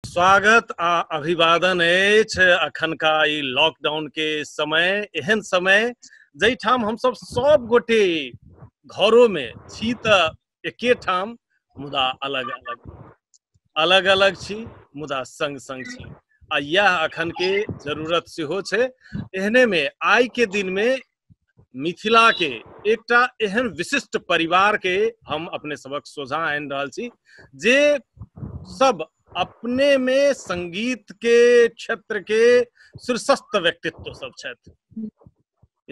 स्वागत आ अभिवादन अछि अखनका ई लॉकडाउन के समय एहन समय जाहिठाम हमसभ सब गोटे घरो मे छी तऽ एके ठाम मुदा अलग अलग अलग अलग छी मुदा संग संग छी आ यह अखन के जरूरत सेहो छै एहने मे आइ के दिन मे मिथिला के एकटा एहन विशिष्ट परिवार के हम अपने सबक सोझा आनि रहल छी जे सब अपने में संगीत के क्षेत्र के शीर्षस्थ व्यक्तित्व सब छथि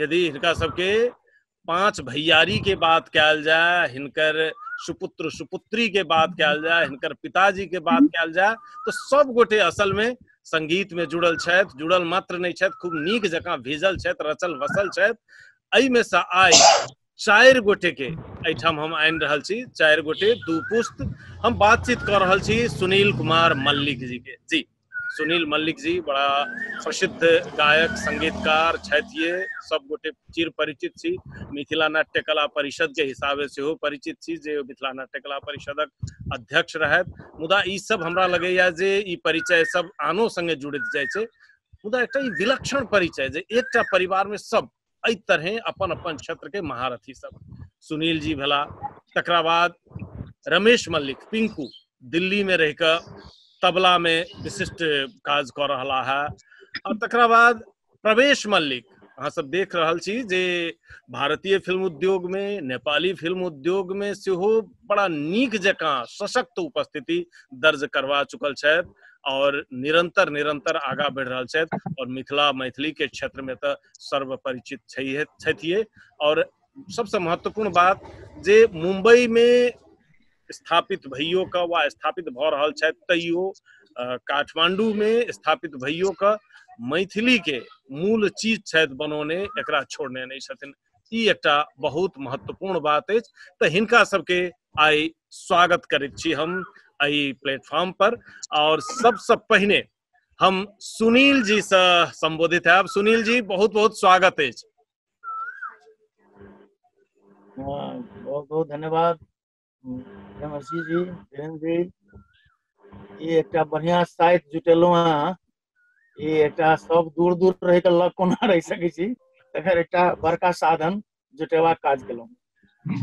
यदि हिनका सबके पांच भैयारी के बात कल जाए हिनकर सुपुत्र सुपुत्री के बात कल जाए हिनकर पिताजी के बात कल जाए तो सब गोटे असल में संगीत में जुड़ल छथि जुड़ल मात्र नहीं छथि खूब नीक जकाँ भेजल छथि रचल वसल छथि एहिमे से आइ चारि गोटे के एहिठाम हम आनि रहल छी चारि गोटे दू पुस्त हम बातचीत कर रहल छी सुनील कुमार मल्लिक जी के जी सुनील मल्लिक जी बड़ा प्रसिद्ध गायक संगीतकार छथि ये सब गोटे चिर परिचित छी मिथिला नाट्य कला परिषद के हिसाबे सेहो परिचित छी जे मिथिला नाट्य कला परिषदक अध्यक्ष रहत मुदा ई सब हमरा लगैया जे ई परिचय सब आनो संगे जुड़ित जाय छै मुदा एकटा ई विलक्षण परिचय जे एकटा परिवार में सब एहि तरहे अपन अपन क्षेत्र के महारथी सब सुनील जी भेला तकरा बाद रमेश मल्लिक पिंकू दिल्ली में रहिकऽ तबला में विशिष्ट काज कऽ रहा है और तकरा बाद प्रवेश मल्लिक अहाँ सब देख रहल छी जे भारतीय फिल्म उद्योग मे नेपाली फिल्म उद्योग मे सेहो बड़ा नीक जकाँ सशक्त उपस्थिति दर्ज करवा चुकल छथि और निरंतर निरंतर आगा बढ़ि रहल छथि और मिथिला मैथिली के क्षेत्र में तऽ सर्वपरिचित छैहे छथिए और सबसे महत्वपूर्ण बात जे मुंबई में स्थापित भइयो कऽ वा स्थापित भऽ रहल छथि तैयो काठमाण्डूमे स्थापित भइयो कऽ मैथिलीके मूल चीज छथि बनौने एकरा छोड़ने नहि छथिन ई एकटा बहुत महत्वपूर्ण बात अछि तऽ हिनका सबके आइ स्वागत करैत छी हम एहि प्लेटफॉर्म पर आओर सबसँ पहिने हम सुनील जी से संबोधित है सुनील जी बहुत बहुत स्वागत है हाँ, बहुत बहुत धन्यवाद नमस्ते जी केहन छी ई एकटा बढ़िया साइट जुटेलहुँ हँ ई एकटा सब दूर दूर रहि कऽ लग कोना रहि सकै छी तकर एकटा बड़का साधन जुटेबाक काज केलहुँ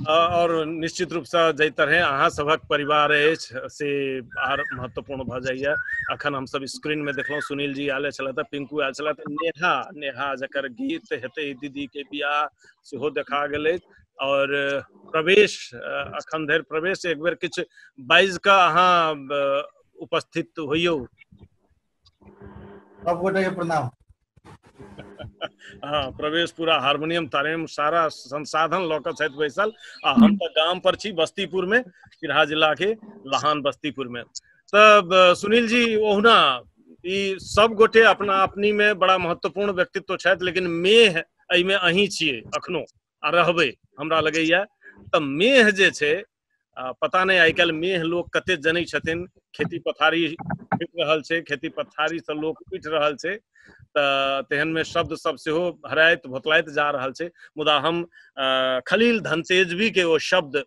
और निश्चित रूप से जाहि तरह अहाँ सभक परिवार अछि से आर महत्वपूर्ण भऽ जाइए अखन हम सब स्क्रीन में देखलहुँ सुनील जी आयल छलथि पिंकू आयल छलथि नेहा नेहा जकर गीत हेतै दीदी के बियाह सेहो देखा गेल अछि और प्रवेश अखन धरि प्रवेश एक बेर किछु बाजि कऽ अहाँ उपस्थित होइयौ सबगोटे प्रणाम हाँ प्रवेश पूरा हारमोनियम तारमोनियम सारा संसाधन लऽ कऽ छथि बैसल आ हम तऽ गाम पर छी बस्तीपुर में सिरहा जिला के लहान बस्तीपुर में तब सुनील जी ओहुना ई सब गोटे अपना अपनी में बड़ा महत्वपूर्ण व्यक्तित्व छथि लेकिन मेह एहिमे अहीं छियै अखनो आ रहबै हमरा लगैए तऽ मेह जे छै आ, पता नहि आइ काल्हि मेह लोक कते जनै छथिन खेती पथारी उठि रहल छै खेती पथारी से लोक उठि रहल छै तऽ तेहन मे शब्द सब सेहो हराइत भोतलाइत जा रहल छै मुदा हम अ, खलील धनतेजवी के ओ शब्द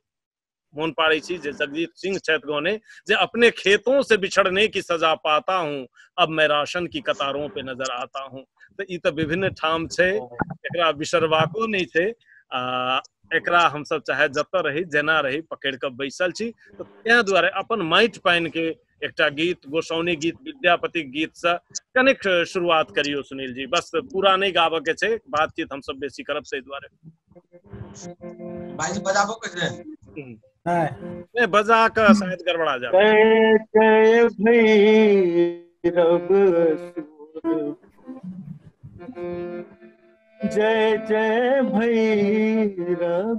मोहन पाड़ी जी जगजीत सिंह छैत गौने जे अपने खेतों से बिछड़ने की सजा पाता हूँ अब मैं राशन की कतारों पे नजर आता हूँ तो ये तो विभिन्न ठाम छे एकरा बिसरवाको नहीं छे आ एकरा हम सब चाहे जत रही जना रही पकड़ के बैसल छी तो तै दुआरे अपन माइट पाइन के एकटा गीत गोसाउनी गीत विद्यापति गीत से कनेक शुरुआत करियो सुनील जी बस पूरा नहीं गाबे के छै बातचीत हम सब बेसी करब से द्वारे भाई जी बजाबो के छै नहीं बजा का शायद गड़बड़ा जा जय जय भैरव जय जय भैरव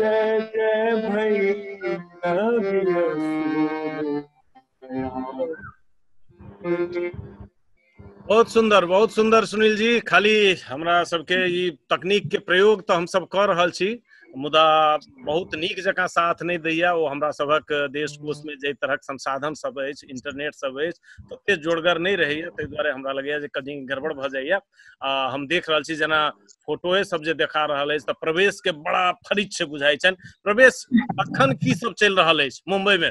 जय जय भई कवि रसूल बहुत सुंदर बहुत सुंदर सुनील जी खाली हमरा सबके ई तकनीक के प्रयोग तो हम सब कर रहल छी मुदा बहुत नीक जकाँ साथ नहि दैए ओ हमरा सभक देश कोषमे जाहि तरहक संसाधन सब अछि इंटरनेट सब अछि तते जोड़गर नहि रहैए ताहि दुआरे हमरा लगैए जे कनि गड़बड़ भऽ जाइए आ हम देख रहल छी जेना फोटोए सब जे देखा रहल अछि तऽ प्रवेशके बड़ा फरिच बुझाइ छनि प्रवेश अखन की सब चलि रहल अछि मुम्बईमे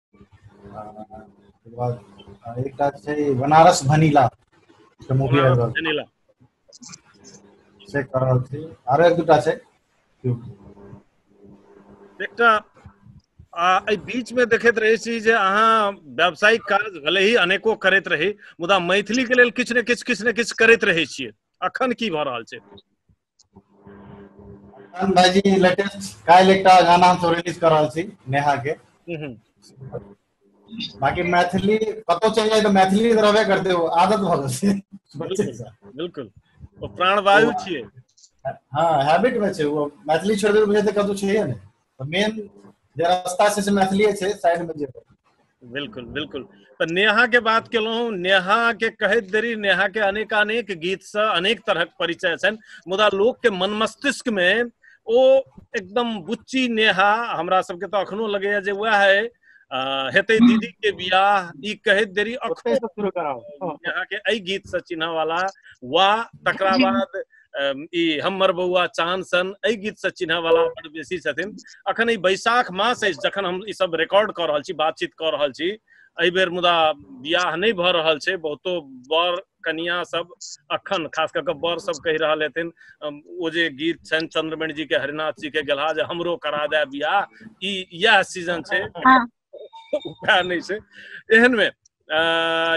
एकटा छै बनारस वनीला के मूवी आबि रहल वनीला से कह रहल छी आरो एक दूटा छै एकटा एहि बीचमे देखैत रहै छी जे अहाँ व्यावसायिक काज भले ही अनेको करैत रही मुदा मैथिलीके लेल किछु ने किछु किछु ने किछु करैत रहै छियै अखन की भऽ रहल छै अरमान भाईजी लेटेस्ट काल्हि एकटा गाना हम सब रिलीज कर रहल छी नेहा के बाकी मैथिली कतौ चलि जाए तो मैथिली तो रहबे करते हो आदत भ गेल छै बच्चे से बिल्कुल ओ प्राणवायु छियै हाँ हैबिट में छै वो मैथिली छोड़ दे बुझे तो कतौ छै ने मेन जे रास्ता छै से मैथिलीए छै साइड में जेबै बिल्कुल बिल्कुल तो नेहा के बात केलहुँ नेहा के कहैत देरी नेहा के अनेक अनेक गीत से अनेक तरह के परिचय छनि मुदा लोक के मन मस्तिष्क में ओ एकदम बुच्ची नेहा हमरा सबके तो अखनो लगैया जे वह है हेते दीदी के बियाह ई कहैत देरी अखनो नेहा के एहि गीत से चिन्ह वाला वा तकरा बाद अम, ई हमर बौआ चांद सन एहि गीत से चिन्ह वाला बड़ बेसी छथिन अखन ई बैसाख मास अछि जखन हम ई सब रिकॉर्ड कऽ रहल छी बातचीत कऽ रहल छी एहि बेर मुदा बियाह नहि भऽ रहल छै बहुतो बर कनिया सब अखन खास कऽ कऽ बर सब कहि रहल हेथिन अम, ओ जे गीत छनि चंद्रमणि जी के हरिनाथ जी के गेलहा जे हमरो करा दे बियाह ई इएह सीजन छै हँ। नहि छै एहन मे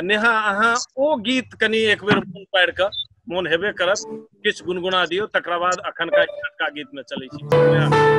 नेहा अहाँ ओ गीत कनि एक बेर मोन पारि कऽ मोन हेबे करत किछु गुनगुना दियौ तकरा बाद अखनका अखनका गीत में चलै छी नेहा।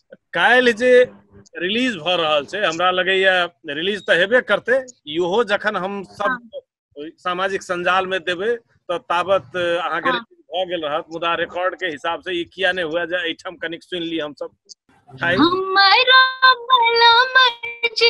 काल्हि जे रिलीज भऽ रहल छै हमरा लगैया रिलीज तऽ हेबे करतै इहो जखन हम सब सामाजिक संजाल में देबै तऽ ताबत अहाँके हाँ। रिलीज भऽ गेल रहत मुदा रिकॉर्ड के हिसाब से ई किया नहि हुए जे एहिठाम कनिक सुनि ली हमसब हमरो बलम जे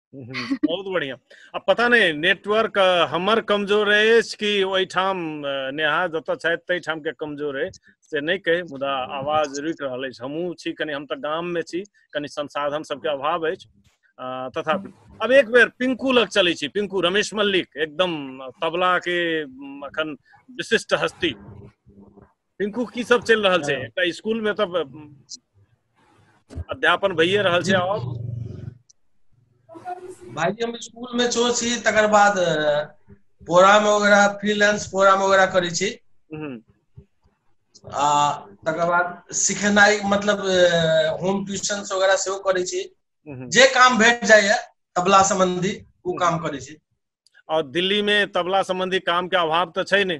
हम्म, बहुत बढ़िया अब पता नहीं नेटवर्क हमर कमजोर है कि वही ठाम नेहा जत छथि तई ठाम के कमजोर है से नहीं कहे मुदा आवाज रुक रहा है हमू छी कनी हम त गाम में छी कनी संसाधन सबके अभाव है तथा अब एक बेर पिंकू लग चले छी पिंकू रमेश मल्लिक एकदम तबला के अखन विशिष्ट हस्ती टिंकू की सब चलि रहल छै एकटा स्कूल में तऽ अध्यापन भइए रहल छै और भाईजी हम स्कूल में छो छी तकर बाद प्रोग्राम वगैरह फ्रीलांस प्रोग्राम वगैरह करै छी हम्म, आ तकर बाद सिखेनाइ मतलब होम ट्यूशन वगैरह सेहो करै छी हम्म। जे काम भेट जाइए तबला सम्बन्धी ओ काम करै छी और दिल्ली में तबला संबंधी काम के अभाव तऽ छै ने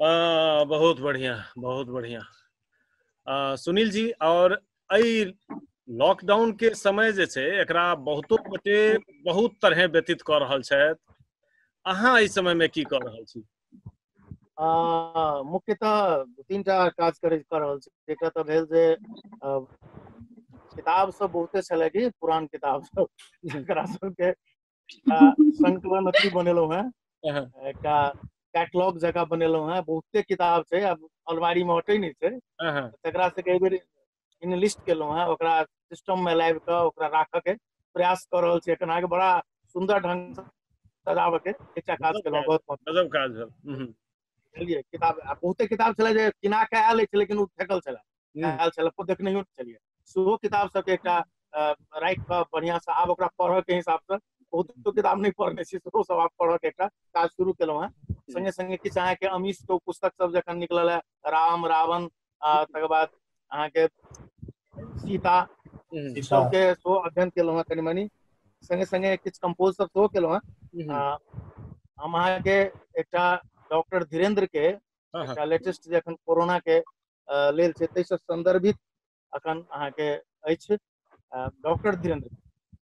आ, बहुत बढ़िया बहुत बढ़िया आ, सुनील जी और एहि लॉकडाउन के समय जे छै एकरा बहुतो गोटे बहुत तरह व्यतीत कऽ रहल छथि अहाँ एहि समय में की कऽ रहल छी आ, मुख्यतः दू तीन टा काज करैत कऽ रहल छी एकटा तऽ भेल जे आ, किताब सब बहुते छलै कि पुरान किताब सब जकरा सबके एकटा संकलन अथी बनेलहुँ हेँ अहं, एकटा कैटलॉग जकाँ बनेलहुँ हेँ बहुते किताब छै आब अलमारीमे हटै नहि छै अहं, तकरा सबके एहि बेर इनलिस्ट केलहुँ हेँ ओकरा सिस्टममे लाबि कऽ ओकरा राखऽके प्रयास कऽ रहल छी एखन अहाँके बड़ा सुन्दर ढङ्गसँ सजाबऽके एकटा काज केलहुँ बहुत बहुत गजब काज भेल हम्म, बुझलियै किताब आ बहुते किताब छलै जे किना कऽ आयल अछि लेकिन ओ फेकल छलै हम्म, आयल छलै ओ देखने नहि छलियै सेहो किताब सबके एकटा अ, राखि कऽ बढ़िआँ से आब ओकरा पढ़ऽ के हिसाब से बहुत तो किताब नहि पढ़ने छी सेहो सब आब पढ़ऽ के एकटा काज शुरू केलहुँ हेँ संगे संगे किछु अहाँके अमीश के ओ पुस्तक सब जखन निकलल है राम रावण आ तकर बाद अहाँके सीता ई अच्छा सबके सेहो अध्ययन केलहुँ हेँ कनि मनी संगे संगे किछ कम्पोज सब सेहो केलहुँ हेँ हम्म, आ हम अहाँके एकटा डॉक्टर धीरेन्द्र के हाँ, हाँ, एकटा लेटेस्ट जे एखन कोरोना के अ, लेल छै ताहिसँ संदर्भित अखन अहाँके अछि डॉक्टर धीरेन्द्र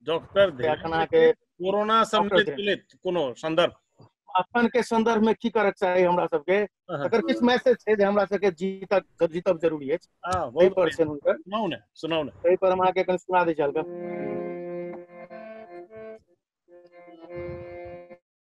डॉक्टर अखन के कोरोना सम्मिलित कोनो संदर्भ अपन के संदर्भ में की करक चाही हमरा सब के अगर किछ मैसेज छै जे हमरा सब के जीतक जीतब जरूरी अछि हां बहुत पर छै हुनकर सुनाउ ने सुनाउ ने तै पर हम आके कन सुना दै छी हल्का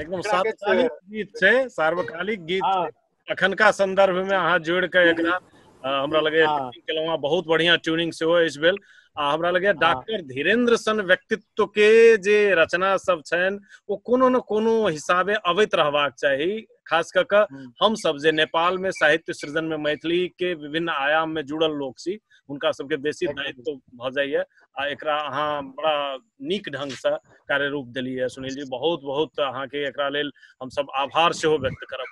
एकदम सार्वकालिक गीत छै सार्वकालिक गीत हाँ। अखनका संदर्भ में अहाँ जोड़ के एकरा हमरा लगे केलहुँ बहुत बढ़िया ट्यूनिंग सेहो अछि भेल आ हमरा लगे डॉक्टर धीरेन्द्र सन व्यक्तित्व के जे रचना सब छनि ओ कोनो न कोनो हिसाबे अबैत रहबाक चाही खास कऽ कऽ हम्म। हम सब जे नेपाल में साहित्य सृजन में मैथिली के विभिन्न आयाम में जुड़ल लोग छी हुनका सबके बेसी दायित्व भऽ जाइए आ एकरा अहाँ बड़ा नीक ढङ्गसँ कार्य रूप देलियै सुनील जी बहुत बहुत अहाँके एकरा लेल हमसभ आभार सेहो व्यक्त करब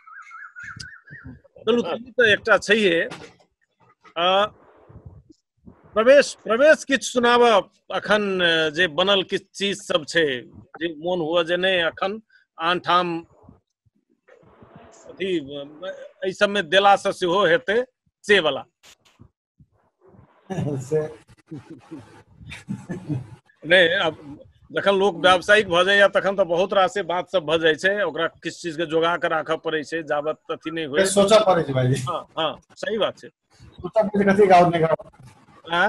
चलू ई तऽ एकटा छैहे आ, प्रवेश प्रवेश किछु सुनाबऽ अखन जे बनल किछु चीज सब छै जे मोन हुआ जे नहि अखन आन ठाम अथी एहि सबमे देलासँ सेहो हेतै से बला नहि अब जखन लोक व्यावसायिक भऽ जाइए तखन तऽ बहुत रासे बात सब भऽ जाइ छै ओकरा किछु चीज के जोगा कऽ राखऽ पड़ै छै जाबत अथी नहि होय सोचऽ पड़ै छै भाईजी हँ हँ सही बात छै सोचऽ पड़ै छै कथी गाउँ निकाल आँ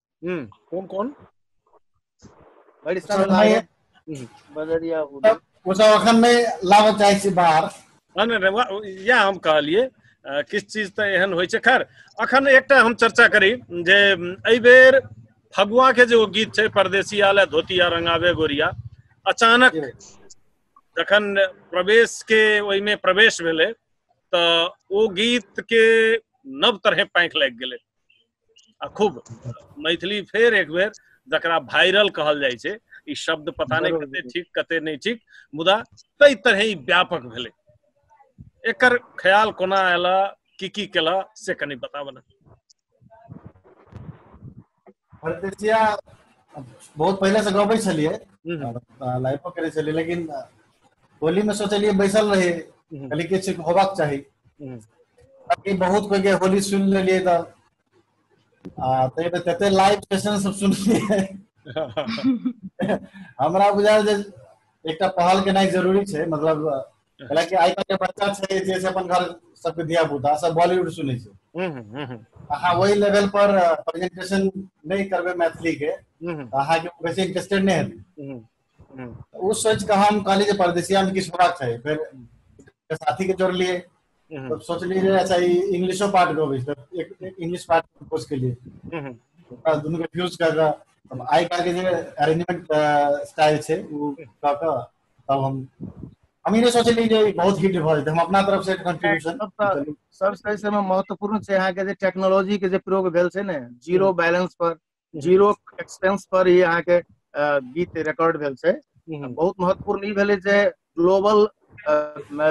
हम्म कौन कौन बड़ी सर साल मैं लागत हम्म बदरिया हुआ वो सब अखन नहीं लाबऽ चाहै छी बाहर हँ, नहि, नहि, वा- इएह हम कहलियै अ, किछु चीज तऽ एहन होइ छै खैर अखन एकटा हम चर्चा करी जे म, एहि बेर फगुआ के जे ओ गीत छै परदेसी आले धोतिया रंगावे गोरिया अचानक जखन प्रवेश के ओहिमे प्रवेश भेलै तऽ ओ गीत के नव तरहे पाँखि लागि गेलै आ खूब मैथिली फेर एक बेर जकरा वायरल कहल जाइ छै ई शब्द पता नहि कते ठीक कते नहि ठीक मुदा ताहि तरह ई व्यापक भेलै एकर ख्याल कोना आयल की की केल से कनि बताबऽ ने परदेसिया बहुत पहिले से गबै छलिए हम्म, लाइफो करै छलिए लेकिन होली में सोचलिए बैसल रही हम्म। कहली किछु होबाक चाही हम्म। अभी बहुत कोई के होली सुन लेलिए त आ तै में तते लाइव सेशन सब सुनलिए हमरा बुझायल जे एकटा पहल केनाइ जरूरी छै मतलब हालांकि आइ काल्हि के बच्चा छै जे से अपन घर सबके धिया पुता सब बॉलीवुड सुनै छै हम्म, हम्म, हम्म, अहाँ वही लेवल पर प्रेजेंटेशन नहीं करबे मैथिली के हम्म, अहाँ के वैसे इंटरेस्टेड नहीं हेतै हम्म, हम्म, ओ सोचि कऽ हम कहली जे परदेसिया में किछु होबाक चाही फेर एकटा साथी के जोड़लियै हम्म, तब सोचलियै जे अच्छा ई इंग्लिशो पार्ट गबै छै तब एक एक इंग्लिश पार्ट कंपोज केलियै हम्म, ओकरा दुनू के फ्यूज कऽ कऽ तब आइ काल्हि के जे अरेंजमेंट स्टाइल छै ओ कऽ कऽ तब हम हम ई नहि सोचलियै जे ई बहुत हिट भऽ जेतै हम अपना तरफ से कंट्रीब्यूशन तब तऽ सबसे एहि समय महत्वपूर्ण छै अहाँके जे टेक्नोलॉजी के जे प्रयोग भेल छै ने जीरो बैलेंस पर जीरो एक्सपेंस पर ही अहाँ के अ, गीत रिकॉर्ड भेल छै हम्म, बहुत महत्वपूर्ण ई भेलै जे ग्लोबल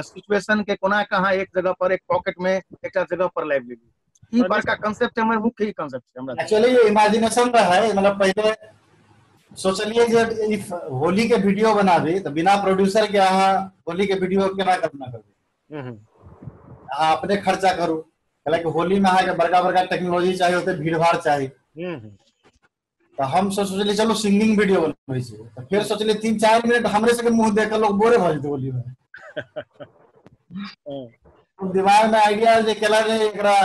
सिचुएशन के कोना के अहाँ एक जगह पर एक पॉकेट में एकटा जगह पर लाइव लेली ई और बड़का कंसेप्ट हमर मुख्य ई कंसेप्ट छै हमरा एक्चुअली ये इमेजिनेशन रहे मतलब पहले सोचलिए जे इफ होली के वीडियो बनाबी तो बिना प्रोड्यूसर के अहाँ होली के वीडियो केना कल्पना करबी हूँ हूँ अहाँ अपने खर्चा करू कैलाकि होली में अहाँके बड़का बड़का टेक्नोलॉजी चाही ओते भीड़ भाड़ चाही हूँ हूँ तऽ हम सब सोचलियै चलू सिंगिंग वीडियो बनबै छी तऽ फेर सोचलियै तीन चारि मिनट हमरे सबके मुंह देख कऽ लोग बोरे भऽ जेतै होली में हूँ हम दिमाग में आइडिया आयल जे केला जे एकरा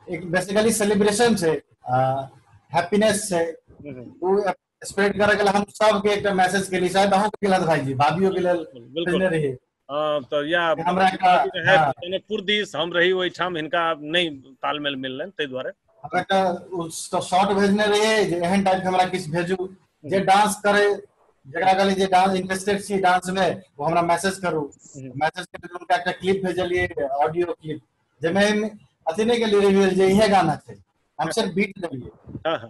एक बेसिकली सेलिब्रेशन छै हैप्पीनेस छै हूँ हूँ ओ स्प्रेड करे के हम सब के एक मैसेज के लिए शायद अहू के लद भाई जी भाभीओ के लेल बिल्कुल रही हां तो या हमरा का है हाँ। माने पुरदीस हम रही ओइ ठाम इनका नहीं तालमेल मिललन ते द्वारे हमरा का उस तो शॉर्ट भेजने रहे जे एहन टाइप हमरा किस भेजू जे डांस हम्म। करे जकरा कहली जे डांस इंटरेस्टेड छी डांस में वो हमरा मैसेज करू मैसेज हम्म। के उनका एक क्लिप भेजलिए ऑडियो क्लिप जे में अथी नहीं के लिए रिवील जे यह गाना छै हम सिर्फ बीट देलिए हां हां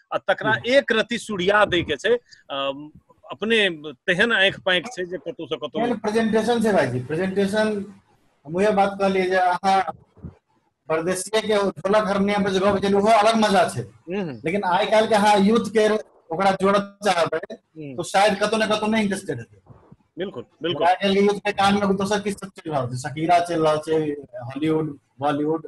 आ तकरा एक रति सुड़िया दै के छै अम, अपने तेहन आँखि पाँखि छै जे कतौ से कतौ एहन प्रेजेंटेशन छै भाईजी प्रेजेंटेशन हम उहे बात कहलिए जे अहाँ परदेसिये के ढोलक हारमोनियम पर जे गप केलिए ओहो अलग मजा छै हम्म, हम्म, लेकिन आइ काल्हि के अहाँ यूथ के ओकरा जोड़त चाहबै हम्म, तो शायद कतौ ने कतौ नहि इंटरेस्टेड हेतै बिल्कुल बिल्कुल आइ काल्हि यूथ के कान में दोसर किछु सब चलि रहल छै शकीरा चलि रहल छै हॉलीवुड बॉलीवुड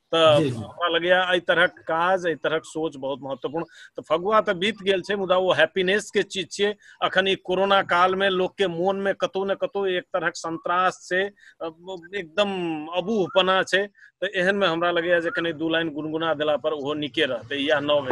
तऽ हमरा लगैया एहि तरहक काज एहि तरहक सोच बहुत महत्वपूर्ण तऽ फगुआ तऽ बीत गेल छै मुदा ओ हैप्पीनेस के चीज छियै अखन ई कोरोना काल मे लोक के मोन मे कतौ ने कतौ एक तरहक संत्रास छै एकदम अबूहपना छै तऽ एहन मे हमरा लगैया जे कनि दू लाइन गुनगुना देला पर ओहो नीके रहतै इएह नव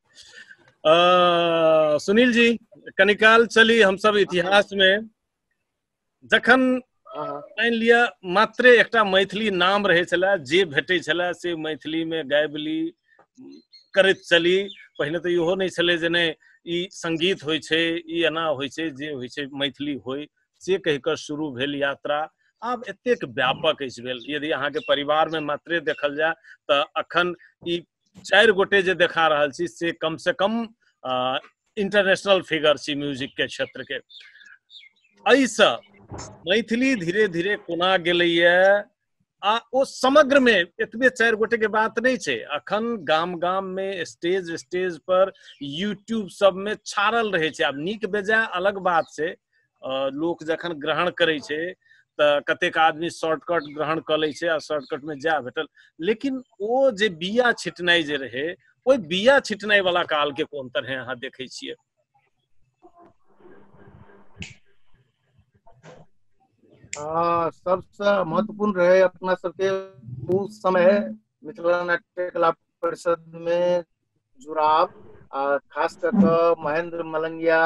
अ, सुनील जी कनिकाल चली हम सब इतिहास में जखन हाँ, हाँ। मानि लिअ मात्रे एकटा मैथिली नाम रहै छलए जे भेटै छलए से मैथिलीमे गाबि ली करैत चली पहिने तऽ इहो नहि छलै जे नहि ई संगीत होइ छै ई एना होइ छै जे होइ छै मैथिली होइ से कहि कऽ शुरू भेल यात्रा आब एतेक व्यापक अछि भेल यदि अहाँके परिवारमे मात्रे देखल जाय तऽ अखन ई चारि गोटे जे देखा रहल छी से कम से कम इंटरनेशनल फिगर छी म्यूजिक के क्षेत्र के एहिसँ मैथिली धीरे धीरे कोना गेलैए आ ओ समग्र में एतबे चार गोटे के बात नहीं छे अखन गाम गाम में स्टेज स्टेज पर यूट्यूब सब में छाड़ल रहे छे अब निक बेजा अलग बात छे लोक जखन ग्रहण करै छै तऽ कतेक आदमी शॉर्टकट ग्रहण कऽ लै छै आ शॉर्टकटमे जाए भेटल लेकिन ओ जे बिया छिटनाइ जे रहै ओहि बिया छिटनाइ वाला काल के कोन तरह अहाँ देखै छियै सबसँ महत्वपूर्ण रहै अपना सबके ओ समय मिथिला नाट्य कला परिषद मे जुड़ाव आ खास कऽ कऽ महेन्द्र मलंगिया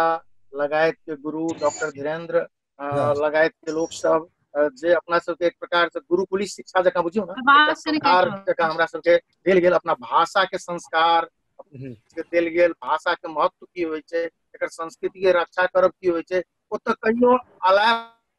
लगायत के गुरु डॉक्टर धीरेन्द्र अ हँ लगायत के लोक सब जे अपना सबके एक प्रकार से गुरुकुल शिक्षा जकाँ बुझियौ ने एकटा आवाज कनि कटि संस्कार रहल जकाँ हमरा सबके देल गेल अपना भाषा के संस्कार हूँ देल गेल भाषा के महत्व की होइ छै एकर संस्कृति के रक्षा करब की होइ छै ओतऽ कहियो अलाय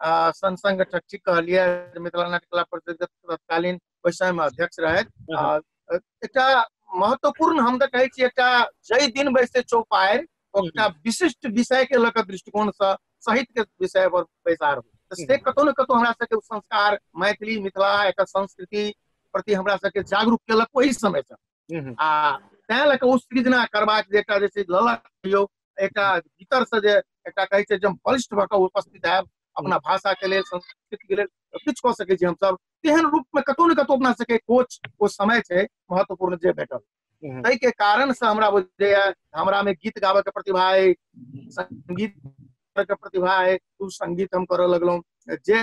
आ संग संग ठट्ठी कहलिए मिथिला नाट्य कला परिषद के तत्कालीन ओहि समय में अध्यक्ष रहथि आ अ, एकटा महत्वपूर्ण हम तऽ कहै छी एकटा जय दिन बैसे चौपायर एकटा विशिष्ट विषय के लऽ कऽ दृष्टिकोण से साहित्य के विषय पर बैसार होय। तऽ से कतौ ने कतौ हमरा सबके ओ संस्कार मैथिली मिथिला एकर संस्कृति प्रति हमरा सबके जागरूक केलक ओहि समय से आ तैं लऽ कऽ ओ सृजना करबाक जे एकटा जे छै ललक कहियौ एकटा भीतर से जे एकटा कहै छै जे हम बलिष्ठ भऽ कऽ उपस्थित आयब अपना हम्म। भाषा के लेल संस्कृति के लेल किछु कऽ सकै छी हमसभ तेहन रूप में कतौ ने कतौ अपना सबके कोच ओ समय छै महत्वपूर्ण जे भेटल हम्म। ताहि के कारण से हमरा बुझैया हमरा में गीत गाबे के प्रतिभा अइ संगीत के प्रतिभा अइ ओ संगीत हम करऽ लगलहुँ जे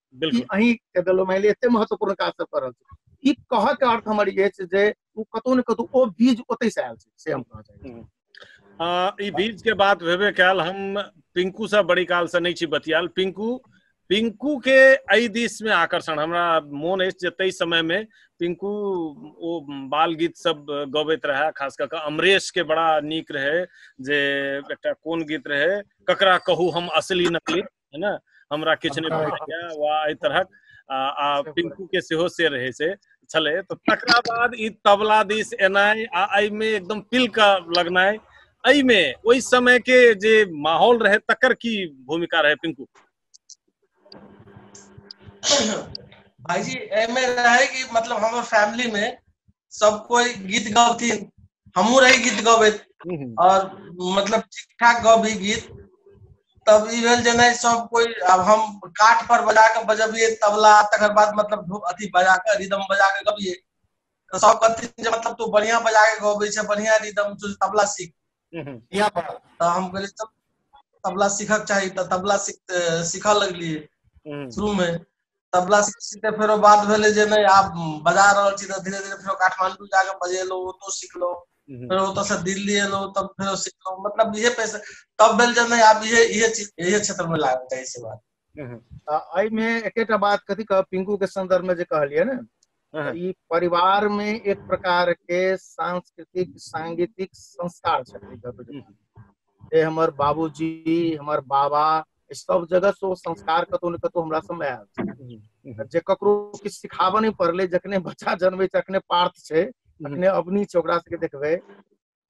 बिल्कुल अही के देलो माइले एते महत्वपूर्ण काज सब करल छै ई कहऽ के अर्थ हमर ये छै जे ओ कतौ ने कतौ ओ बीज ओतै से आयल छै से हम कहऽ चाहै छी आ, ई बीज के बात भेबे कयल हम पिंकू से बड़ी काल से नहीं छी बतियाल पिंकू पिंकू के एहि दिस में आकर्षण हमरा मोन अछि जे ताहि समय में पिंकू ओ बाल गीत सब गबैत रहे खास कऽ कऽ अमरेश के बड़ा नीक रहे जे एकटा कोन गीत रहे ककरा कहू हम असली नकली है ना हमरा किछु नहि बुझाइया वा एहि तरहक आ, आ पिंकू के सेहो से रहै से छलै तऽ तकरा बाद ई तबला दिस एनाइ आ एहिमे एकदम पिल के लगनाइ एहिमे ओहि समय के जे माहौल रहै तकर की भूमिका रहै पिंकू भाईजी एमे रहे कि मतलब हमर फैमिली में सब कोई गीत गबथिन हमहू रही गीत गबैत हम्म, हम्म। और मतलब ठीक ठाक गबी गीत तब ई भेल जे नहि सब कोइ आब हम काठ पर बजा कऽ बजबियै तबला तकर बाद मतलब अथी बजा कऽ रिदम बजा कऽ गबियै तऽ सब कहथिन जे मतलब तू बढ़िया बजा के गबै छै बढ़िया रिदम तू तबला सीख यहाँ पर तऽ हम कहलियै तब तबला सीखक चाही तऽ तबला सीख सीखऽ लगलियै शुरू में तबला सीख के फेरो बात भेलै जे नहि आब बजा रहल छी तऽ धीरे धीरे फेरो काठमांडू जाके बजेलहुँ ओतौ सिखलहुँ हम्म। फेर ओतऽ से दिल्ली एलहुँ तब फेरो सिखलहुँ मतलब इहे पैसा तब भेल जे नहि आब इहे इहे चीज इहे क्षेत्र में लागल चाही से बात हम्म। आ एहिमे एकेटा बात कथी कहब पिंकू के संदर्भ में जे कहलियै ने हाँ। ई परिवार में एक प्रकार के सांस्कृतिक सांगीतिक संस्कार छे हम्म। ए हमर बाबूजी हमर बाबा ई सब जगह से ओ संस्कार कतौ ने कतौ हमरा सब में आयल छे। हम्म, हम्म, जे ककरो किछु सिखाबऽ नहि पड़लै जखने बच्चा जन्मै छै अखने पार्थ छै अखने अवनी छै ओकरा सबके देखबै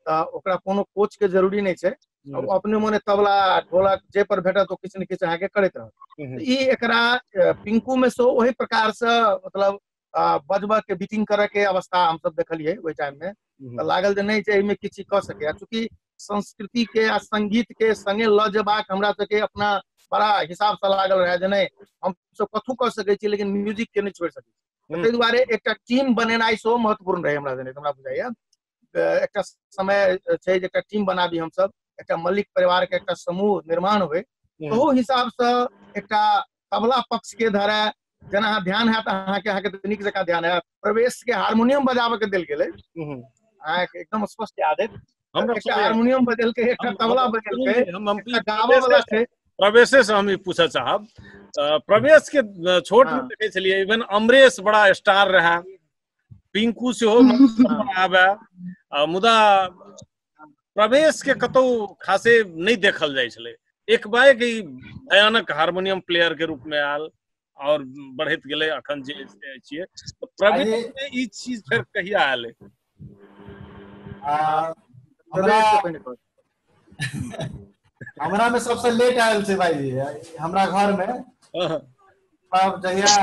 तऽ ओकरा कोनो कोच के जरूरी नहि छै अब अपने मोने तबला ढोलक जे पर भेटत ओ किछु ने किछु अहाँके करैत रहत हम्म। ई एकरा अ, पिंकू मे से ओहि प्रकार से मतलब अ, बजबऽ के बीटिंग करऽ के अवस्था हमसब देखलियै ओहि टाइम मे तऽ लागल जे नहि जे एहिमे किछु कऽ सकैया चूँकि संस्कृति के आ संगीत के संगे लऽ जेबाक हमरा सबके अपना बड़ा हिसाब से लागल रहए जे नहि हमसब कथू कऽ सकैत छी लेकिन म्यूजिक के नहि छोड़ि सकैत छी हम्म। ताहि दुआरे एकटा टीम बनेनाइ सेहो महत्वपूर्ण रहै हमरा जने हमरा बुझाइया एकटा समय छै जे एकटा टीम बनाबी हमसब एकटा मलिक परिवार के एकटा समूह निर्माण होय हम्म। ओहो हिसाब से एकटा तबला पक्ष के धरे जेना अहाँ ध्यान हैत अहाँके अहाँके तऽ नीक जकाँ ध्यान हैत प्रवेश के हारमोनियम बजाबऽ के देल गेलै हम्म। अहाँके एकदम स्पष्ट याद अछि हमरा एकटा सुनै- हारमोनियम बजेलकै एकटा हम- तबला हम- बजेलकै हम हम एकटा गाबऽ वाला छै प्रवेशे से हम ई पूछऽ चाहब अ, प्रवेश के अ, छोट में हाँ। देखे छलिए इवन अमरेश बड़ा स्टार रहा पिंकू सेहो आबे मुदा प्रवेश के कतौ खासे नहीं देखल जाइ छलै एक बाएक ई भयानक हारमोनियम प्लेयर के रूप में आयल और बढ़त गेले अखन जे छिए तो प्रवेश में ई चीज फिर कहिया आयल हमरा हमरा में सबसे लेट आयल छै भाईजी हमरा घर में तब जहिया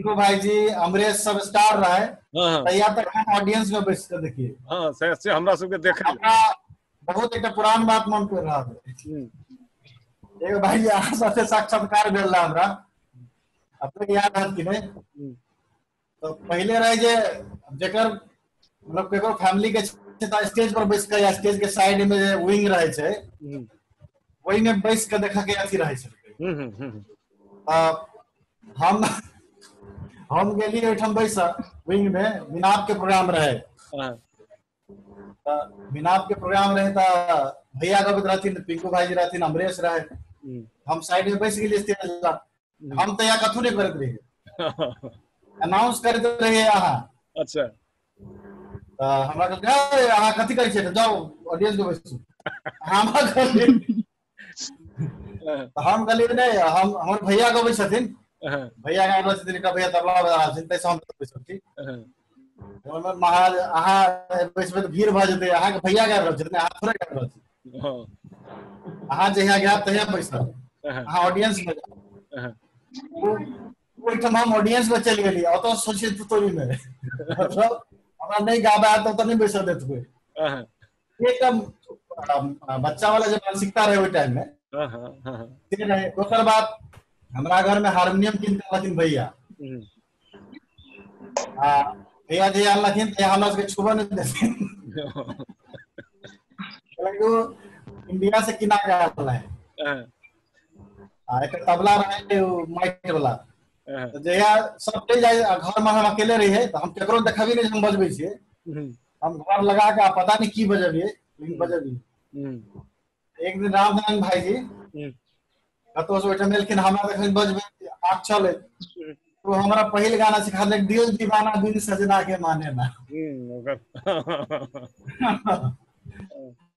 इको भाईजी अमरेश सब स्टार रहे तहिया तक हम ऑडियंस में बैस के देखिए हां से से हमरा सब के देखे हमरा बहुत एकटा पुरान बात मन पड़ रहा है एगो भाई अहाँ साथे साक्षात्कार भेल रहा हमरा अपने याद है कि नहीं तऽ पहिले रहै जे जकर मतलब केकरो फैमिली के छै तऽ स्टेज पर बैस कऽ या स्टेज के साइड में जे विंग रहै छै हम्म, ओहि में बैस कऽ देखऽ के अथी रहै छै हम्म, हम्म, हम्म, तऽ हम हम गेलियै ओहिठाम बैसऽ विंग में मिनाप के प्रोग्राम रहै हाँ, बिना के प्रोग्राम रहे था भैया का भी रहथिन पिंकू भाई जी रहथिन अमरेश रहे हम्म। हम साइड में बैठ गेलिए स्टेज ला हम्म। हम तो या कथू नहीं करत रहे अनाउंस करत रहे यहाँ अच्छा तो हमरा कहलकै अहाँ कथी करै छियै जाओ ऑडियंस में बैसू हमरा कहलकै तऽ हम कहलियै नहि हम हमर भैया गबै छथिन भैया गाय गबै छथिन एकटा भैया तबला बजा रहल छथिन ताहिसँ हम गबै छथिन हमर महाराज अहाँ बैसबै तऽ भीड़ भऽ जेतै अहाँके भैया गाबि रहल छथिन अहाँ थोड़े गाबि रहल छी अहाँ जहिया गायब तहिया बैसब अहाँ ऑडियंस मे जाउ ओहिठाम हम ऑडियंस मे चलि गेलियै ओतऽ सोचियै तू तोरी नहि मतलब हमरा नहि गाबे आयत तऽ ओतऽ नहि बैसऽ देत कोइ एक बच्चा वाला जो मानसिकता रहे ओहि टाइम में हाँ, हाँ, हाँ, से रहे दोसर बात हमरा घर में हारमोनियम किन के अनलखिन भैया हम्म। आ भैया जे अनलखिन तऽ हमरा सबके छुबो नहि देथिन हालांकि ओ इंडिया से किना के आयल रहे हाँ, आ एक तबला रहे ओ माइट वाला हाँ, तऽ जहिया सब चलि जाइ आ घर में हम अकेले रहियै तऽ हम केकरो देखबी नहि जे हम बजबै छियै हम्म, हम घर लगा के आप पता नहीं की बजबिए लेकिन बजबिए हम्म, एक दिन रामनारायण भाई जी हम्म, कतौ से ओहिठाम एलखिन हमरा देखलिन बजबे आग चले हम्म, तो हमरा पहिल गाना सिखा देलक दिल दीवाना बिन सजना के माने ना हम्म, ओकर-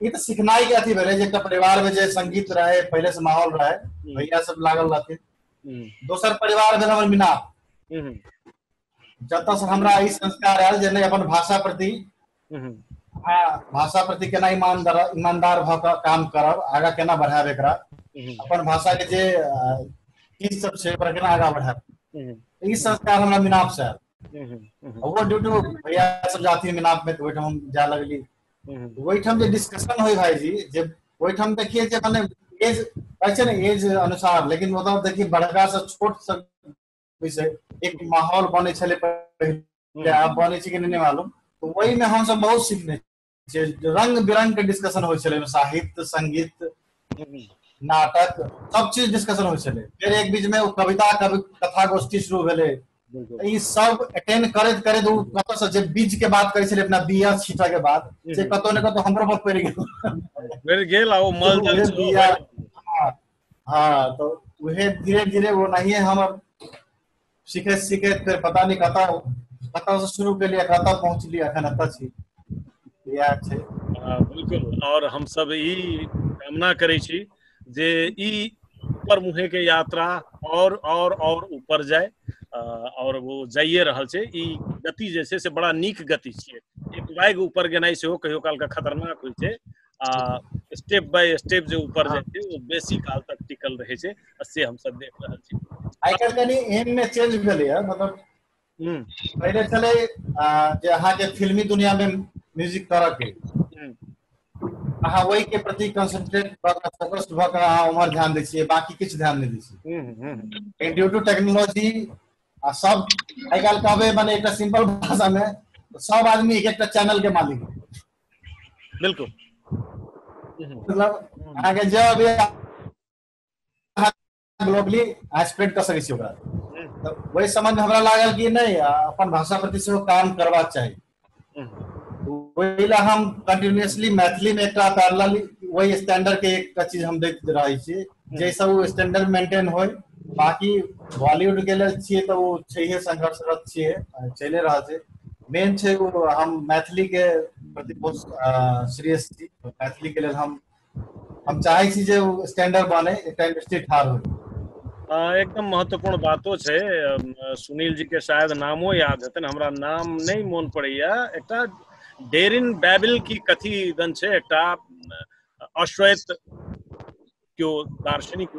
ई तऽ सिखनाइ के अथी भेलै जे एकटा परिवार में जे संगीत रहै पहिले से माहौल रहै हम्म। भैया सब लागल रहथिन हम्म, दोसर परिवार भेल हमर मीना हम्म, जतऽ से हमरा ई संस्कार आयल जे नहि अपन भाषा प्रति हम्म, आ भाषा प्रति केना ईमानदार ईमानदार भऽ कऽ काम करब आगा केना बढ़ायब एकरा हम्म, अपन भाषा के जे अ, चीज सब छै ओकरा केना आगा बढ़ायब हम्म, ई संस्कार हमरा मिनाप से आयल हम्म, हम्म, ओहो ड्यूटी भैया सब जाती मिनाप में तऽ ओहिठाम हम जाय लगली ओहिठाम जे डिस्कशन होइ भाईजी जे ओहिठाम देखिए जे मने एज कहै छै ने एज अनुसार लेकिन मतलब देखिए बड़का से छोट से विषय एक माहौल बने छले पहिले आब बने छै कि नहीं मालूम तो वही में हम सब बहुत सीखने जे रंग बिरंग के डिस्कशन होइ छले साहित्य संगीत नाटक सब चीज डिस्कशन होइ छले फिर एक बीच में कविता कवि कथा गोष्ठी शुरू भेले बिल्कुल ई सब अटेंड करैत करैत ओ कतौ से जे बीज के बात करै छलै अपना बिया छीटा के बाद से कतौ ने कतौ हमरो पर पड़ि गेल पड़ि गेल आ ओ मल जल उहे बिया हाँ, हाँ तो उहे धीरे धीरे वो नहीं है हम अब सीखे सीखे फिर पता नहीं कता कता से शुरू के लिए कता पहुंच लिया अखन अता छी इएह छै आ, बिल्कुल और हम सब ई कामना करै छी जे ई ऊपर मुहे के यात्रा और और और ऊपर जाए अ, और वो जाइए रहल छै ई गति जे छै से बड़ा नीक गति छियै एक बाइक ऊपर गेनाइ सेहो कहियो काल के खतरनाक होइ छै आ स्टेप बाय स्टेप जे ऊपर जाइ छै वो बेसी काल तक टिकल रहै छै आ से हम सब देख रहल छी आइ काल्हि कनि एम मे चेंज भेलैए मतलब हम्म। पहले चले जे अहा के फिल्मी दुनिया में म्यूजिक तरह के हम्म। अहा वही के प्रति कंसंट्रेट भ के फोकस भ के अहा उमर ध्यान दे छिए बाकी किछ ध्यान नहीं दे छिए हम्म, ड्यू टू टेक्नोलॉजी आ सब आई काल कहबे माने एक सिंपल भाषा में तो सब आदमी एक एक चैनल के मालिक है बिल्कुल मतलब अहा के जब ग्लोबली आ स्प्रेड कऽ सकै छी ओकरा तऽ ओहि सम्बन्ध हमरा लागल कि नहि अपन भाषा प्रति सेहो काम करबाक चाही ओहि लए हम कंटिन्यूसली मैथिली मे एकटा पैरल वही स्टैंडर्ड के एकटा चीज हम देख रहे छी जैसे वो स्टैंडर्ड मेंटेन हो बाकी बॉलीवुड के लिए छे तो वो छे संघर्षरत छे चले रहा छे मेन छे वो हम मैथिली के प्रति बहुत सीरियस छी मैथिली के लिए हम हम चाहे छी जे स्टैंडर्ड बने एक टाइम स्थिर ठार हो एकदम महत्वपूर्ण बातो छै सुनील जी के शायद नामो याद हेतन हमरा नाम नहीं मोन पड़ैया एकटा डेरिन बैबिल की कथी दन छै एकटा अश्वेत क्यो दार्शनिक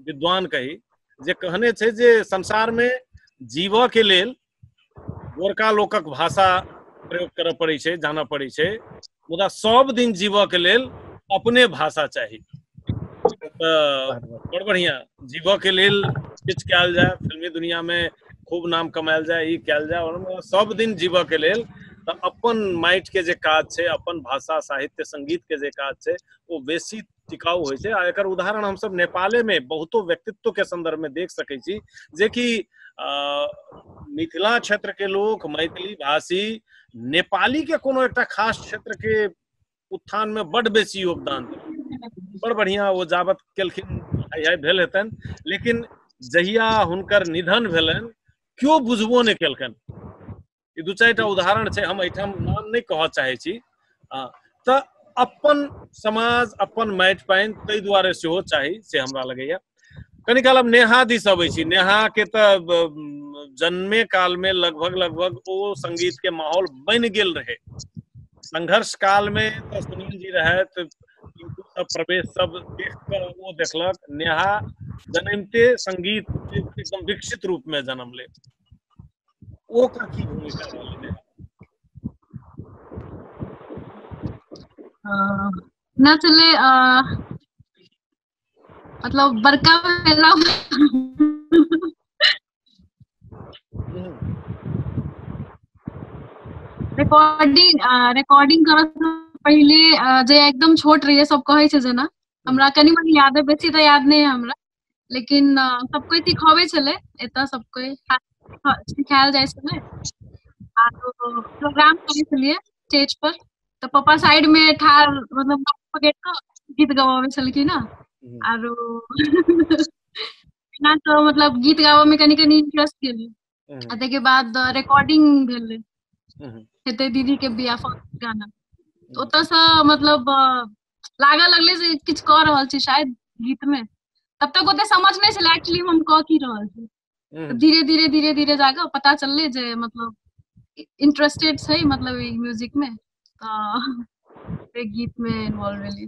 विद्वान कही जे कहने छै जे संसार में जीव के लेल गोरका लोकक भाषा प्रयोग करऽ पड़ै छै जानऽ पड़ै छै मुदा सब दिन जीवऽ के लेल अपने भाषा चाही तऽ बड़ बढ़िया जीवऽ के लेल किछु कयल जाय फिल्मी दुनिया में खूब नाम कमायल जाय ई कयल जाय और मुदा सब दिन जीवऽ के लेल तऽ अपन माटि के जे काज छै अपन भाषा साहित्य संगीत के जे काज छै ओ बेसी टिकाऊ होइ छै आ एकर उदाहरण हम सब नेपाले में बहुतो व्यक्तित्व के संदर्भ में देख सकै छी जे कि मिथिला क्षेत्र के लोग मैथिली भाषी नेपाली के कोनो एकटा खास क्षेत्र के उत्थान में बड बेसी योगदान बड़ बढ़िया वो जाबत केलखिन है भेल हेतन लेकिन जहिया हुनकर निधन भेलन क्यों बुझबो नहीं केलकन ई दू चारि टा उदाहरण छै हम एहिठाम नाम नहि कहऽ चाहै छी आ, तऽ अपन समाज अपन माटि पानि ताहि दुआरे सेहो चाही से हमरा लगैया कनि काल हम नेहा दिस अबै छी नेहा के तऽ ब- म, जन्मे काल मे लगभग लगभग ओ संगीत के माहौल बनि गेल रहे संघर्ष काल मे तऽ सुनील जी रहथि टिंकू सब प्रवेश सब देख कऽ ओ देखलक नेहा जन्मते संगीत के एकदम विकसित रूप में जन्म ले ओ का की भूमिका रहल एहिमे न छलै आ मतलब बड़का भेला रिकॉर्डिंग रिकॉर्डिंग करऽ सँ पहिले अ, जे एकदम छोट रहिए सब कहै छै जेना हमरा कनि मनि याद है बेसी तऽ याद नहि है हमरा लेकिन सब कोई सिखावे छले एतऽ सब कोई सिखायल जाय छले आ प्रोग्राम करे छलिए स्टेज पर तो पापा साइड में ठार मतलब पकड़ के गीत गवावे छलखिन ना आरो ना तो मतलब गीत गावे में कनी कनी इंटरेस्ट गेल आ ताहिके बाद रिकॉर्डिंग भेल हेतै दीदी के बिया फर्स्ट गाना ओतऽसँ मतलब लागऽ लगलै जे किछु कऽ रहल छी शायद गीत में तब तक ओते समझ नहीं छलै एक्चुअली हम कह की रहल छी धीरे धीरे धीरे धीरे जाके पता चलले जे मतलब इंटरेस्टेड छै मतलब म्यूजिक में तो गीत में इन्वॉल्व भेली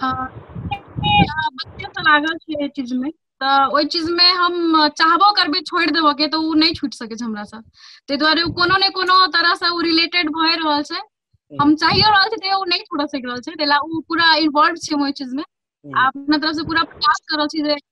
हँ लागल छै एहि चीज मे तऽ ओहि चीज मे हम चाहबो करबै छोड़ि देबय के तऽ ओ नहि छुटि सकैत छै हमरा से ताहि दुआरे ओ कोनो ने कोनो तरह से ओ रिलेटेड भए रहल छै हम चाहियो रहल छी तैयो ओ नहि छूटऽ सकि रहल छै ताहि ले ओ पूरा इन्वोल्व छै हम ओहि चीज मे आ अपना तरफ से पूरा प्रयास कऽ रहल छी जे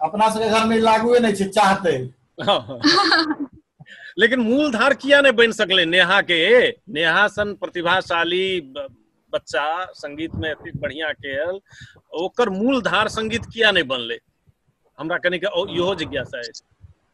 अपना सबके घर में लागुए नहीं छै चाहते लेकिन मूल धार किया नहीं बन सकले नेहा के नेहा सन प्रतिभाशाली ब- बच्चा संगीत में एते बढ़िया केल ओकर मूल धार संगीत किया नहीं बनले हमरा कनी के ओ- इहो जिज्ञासा है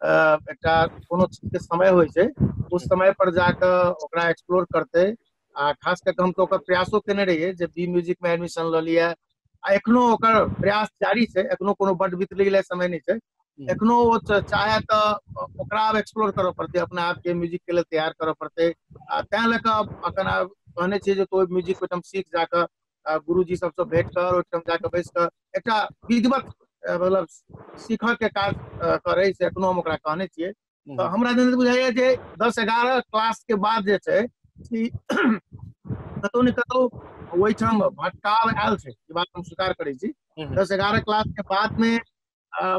अ एकटा कोनो चीज के समय होइ छै ओ समय पर जा कऽ ओकरा एक्सप्लोर करतै आ खास कर के हम तऽ ओकर प्रयासो केने रहियै जे बी म्यूजिक मे एडमिशन लऽ लिये आ एखनो ओकर प्रयास जारी छै एखनो कोनो बड्ड बितलै ले समय नहि छै एखनो ओ चाहे तऽ ओकरा आब एक्सप्लोर करय पड़तै अपना आपके म्यूजिक के लेल तैयार करऽ पड़तै आ तैं लए कऽ अखन आब कहने छियै जे तों म्यूजिक ओहिठाम सीख जाकऽ आ गुरुजी सबसँ भेंट कर ओहिठाम जाकऽ बैस कऽ एकटा विधिवत अ, मतलब सीखऽ के काज अ, करै से एखनो हम ओकरा कहने छियै हम्म। तऽ हमरा जन बुझाइए जे दस एगारह क्लास के बाद जे छै से कतौ ने कतौ ओहिठाम भटकाव आयल छै ई बात हम स्वीकार करै छी हम्म। दस एगारह क्लास के बाद में अ,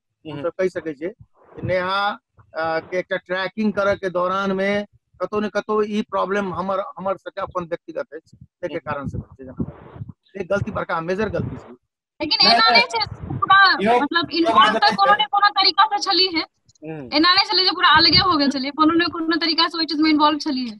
हम्म। हमसब कहि सकै छियै कि नेहा अ, के एकटा ट्रैकिंग करऽ के दौरान मे कतौ ने कतौ ई प्रॉब्लम हमर हमर सबके अपन व्यक्तिगत अछि ताहिके हम्म। कारण से भेल छै जेना एक गलती बड़का मेजर गलती छै लेकिन नहि, एना नहि। नहि छै पूरा इहो- मतलब इहो इन्वॉल्व बात तऽ नहि कोनो छै। ने कोनो तरीका से छली है हम्म। एना नहि छलै जे पूरा अलगे हो गेल छलियै कोनो ने कोनो तरीका से ओहि चीज मे इन्वॉल्व छलियै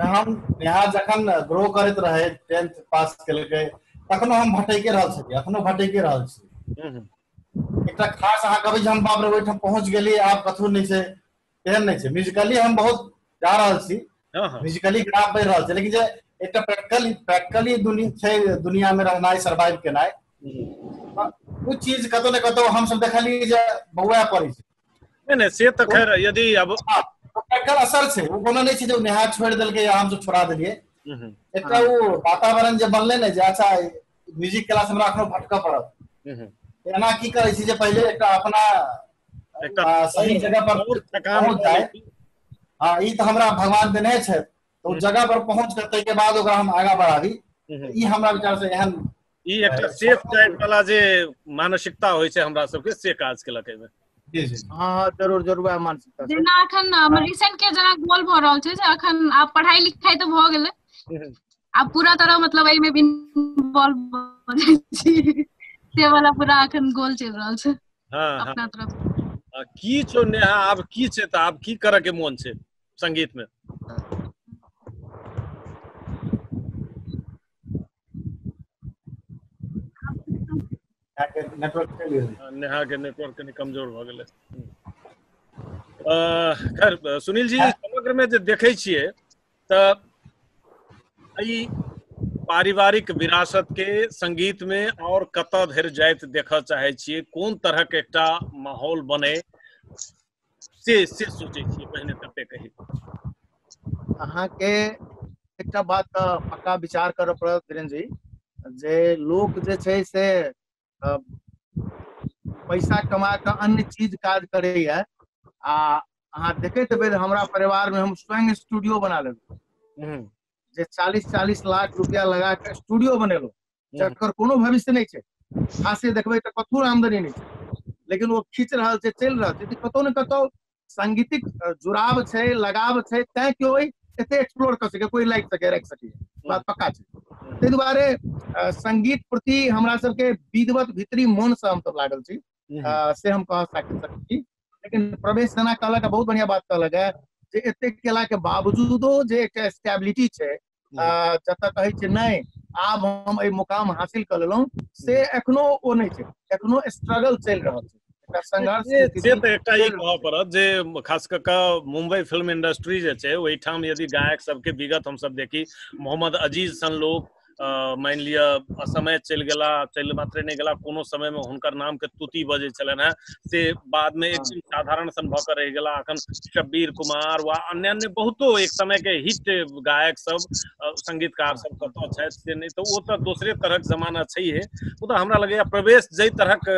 हम यहाँ जखन ग्रो करैत रहे टेंथ पास केलकै तखनो हम भटैके रहल छी अखनो भटैके रहल छी हम्म, हम्म। एकटा खास अहाँ कहबै जे हम बाप रे ओहिठाम पहुँच गेलियै आब कथू नहि छै तेहन नहि छै म्यूजिकली हम बहुत जा रहल छी हाँ, हाँ। म्यूजिकली ग्राफ बढ़ि रहल छै लेकिन जे एकटा प्रैक्टिकल प्रैक्टिकली दुनिया छै दुनियामे रहनाइ सर्वाइव केनाइ हम्म। ओ चीज कतौ ने कतौ हमसब देखलियै जे बौआ पड़ै छै नहि नहि से तऽ खैर यदि अब हाँ, एकर असर छै ओ कोनो नहि छै जे ओ नहा छोड़ि देलकै या हमसब छोड़ा देलियै हम्म, एकटा ओ वातावरण जे बनलै ने जे अच्छा म्यूजिक क्लास हमरा एखनो भटकऽ पड़त हम्म, एना की करै छी जे पहिले एकटा अपना एकटा आ, सही जगह पर आओर थकान पहुँच जाए हाँ ई तऽ हमरा भगवान देने छथि तऽ ओ जगह पर पहुँच कऽ ताहिके बाद ओकरा हम आगाँ बढ़ाबी हम्म, ई हमरा विचार से एहन ई एकटा सेफ टाइप वाला जे मानसिकता होइ छै हमरा सबके से काज केलक एहिमे जी जी हाँ हाँ जरूर जरूर वएह मानसिकता छै। जेना अखन हमर रिसेंट के जेना गोल भऽ रहल छै जे अखन आब पढ़ाई लिखाई तऽ भऽ गेलै हम्म। आब पूरा तरह मतलब एहिमे भी इन्वॉल्व भऽ जाइ छी से वाला पूरा अखन गोल चलि रहल छै हाँ हाँ अपना तरफ से। आ, की छौ नेहा आब की छै तऽ आब की करऽ के मोन छै संगीत मे नेटवर्क नेहा के नेटवर्क कनी कमजोर भऽ गेलै खैर सुनील जी समग्र में जे देखै छियै तऽ ई पारिवारिक विरासत के संगीत में और कतऽ धरि जाइत देखऽ चाहे छियै कोन तरहक एकटा माहौल बने से से सोचै छियै पहिने तबे कही अहाँके एकटा बात तऽ पक्का विचार करऽ पड़त धीरेन्द्र जी जे लोक जे छै से पैसा कमा कऽ अन्य चीज काज करैए आ अहाँ देखैत हेबै जे हमरा परिवारमे हम स्वयं स्टूडियो बना लेलहुँ हम्म, जे चालीस चालीस लाख रुपया लगा कऽ स्टूडियो बनेलहुँ जकर कोनो भविष्य नहि छै खासे देखबै तऽ कतहु आमदनी नहि छै लेकिन ओ खींच रहल छै चलि रहल छै कतौ ने कतौ सांगीतिक जुड़ाव छै लगाव छै तैं केओ एते एक्सप्लोर कऽ सके कोई लाइक सके राखि सके बात पक्का छै ताहि दुआरे संगीत प्रति हमरा सबके विधवत भीतरी मन से हम सब लागल छी से हम कह सकैत छी लेकिन प्रवेश सेना कहलक बहुत बढ़िया बात कहलक है जे एते केला के बावजूदो जे एकटा स्टेबिलिटी छै जी आ जतऽ कहै छै नहि आब हम एहि मुकाम हासिल कऽ लेलहुँ से एखनो ओ नहि छै एखनो स्ट्रगल चलि रहल छै एकटा संघर्ष के से स्थिति तऽ एकटा ई चलि रहल कहऽ पड़त जे खास कऽ कऽ मुंबई फिल्म इंडस्ट्री जे छै ओहिठाम यदि गायक सबके विगत हमसब देखी मोहम्मद अजीज सन लोग अ, मानि लिअ असमय चलि गेला चलि मात्रे नहि गेला कोनो समयमे हुनकर नामके तुति बजै छलनि हेँ से बाद में एक हाँ। साधारण सन भऽ रह गला अखन शब्बीर कुमार व अन्य अन्य बहुतो एक समय के हिट गायक सब संगीतकार हाँ। सब कतौ छथि से नहि तऽ ओ तऽ दोसरे तरहक जमाना छैहे मुदा हमरा लगैया प्रवेश जाहि तरहक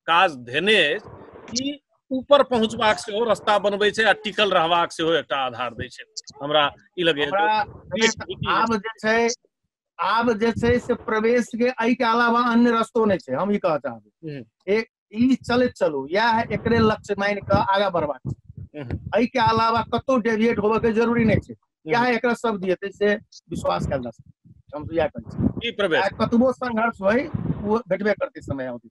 काज धेने अछि ऊपर पहुँचबाक सेहो रास्ता बनबै छै आ टिकल रहबाक सेहो एकटा आधार दै छै हमरा ई लगैया आब जे छै आब जे छै से प्रवेश के एहि के अलावा अन्य रस्तो नहि छै हम ई कहऽ चाहबै हम्म। एक ई चलैत चलू इएह एकरे लक्ष्य मानि कऽ आगाँ बढ़बाक छै हम्म। एहि के अलावा कतौ डेविएट होबऽ के जरूरी नहि छै इएह एकरा शब्द हेतै से विश्वास कयल जा सकैत छै। हम तऽ इएह कहै छी की प्रवेश चाहे कतबो संघर्ष होय ओ भेटबे करतै समय अवधि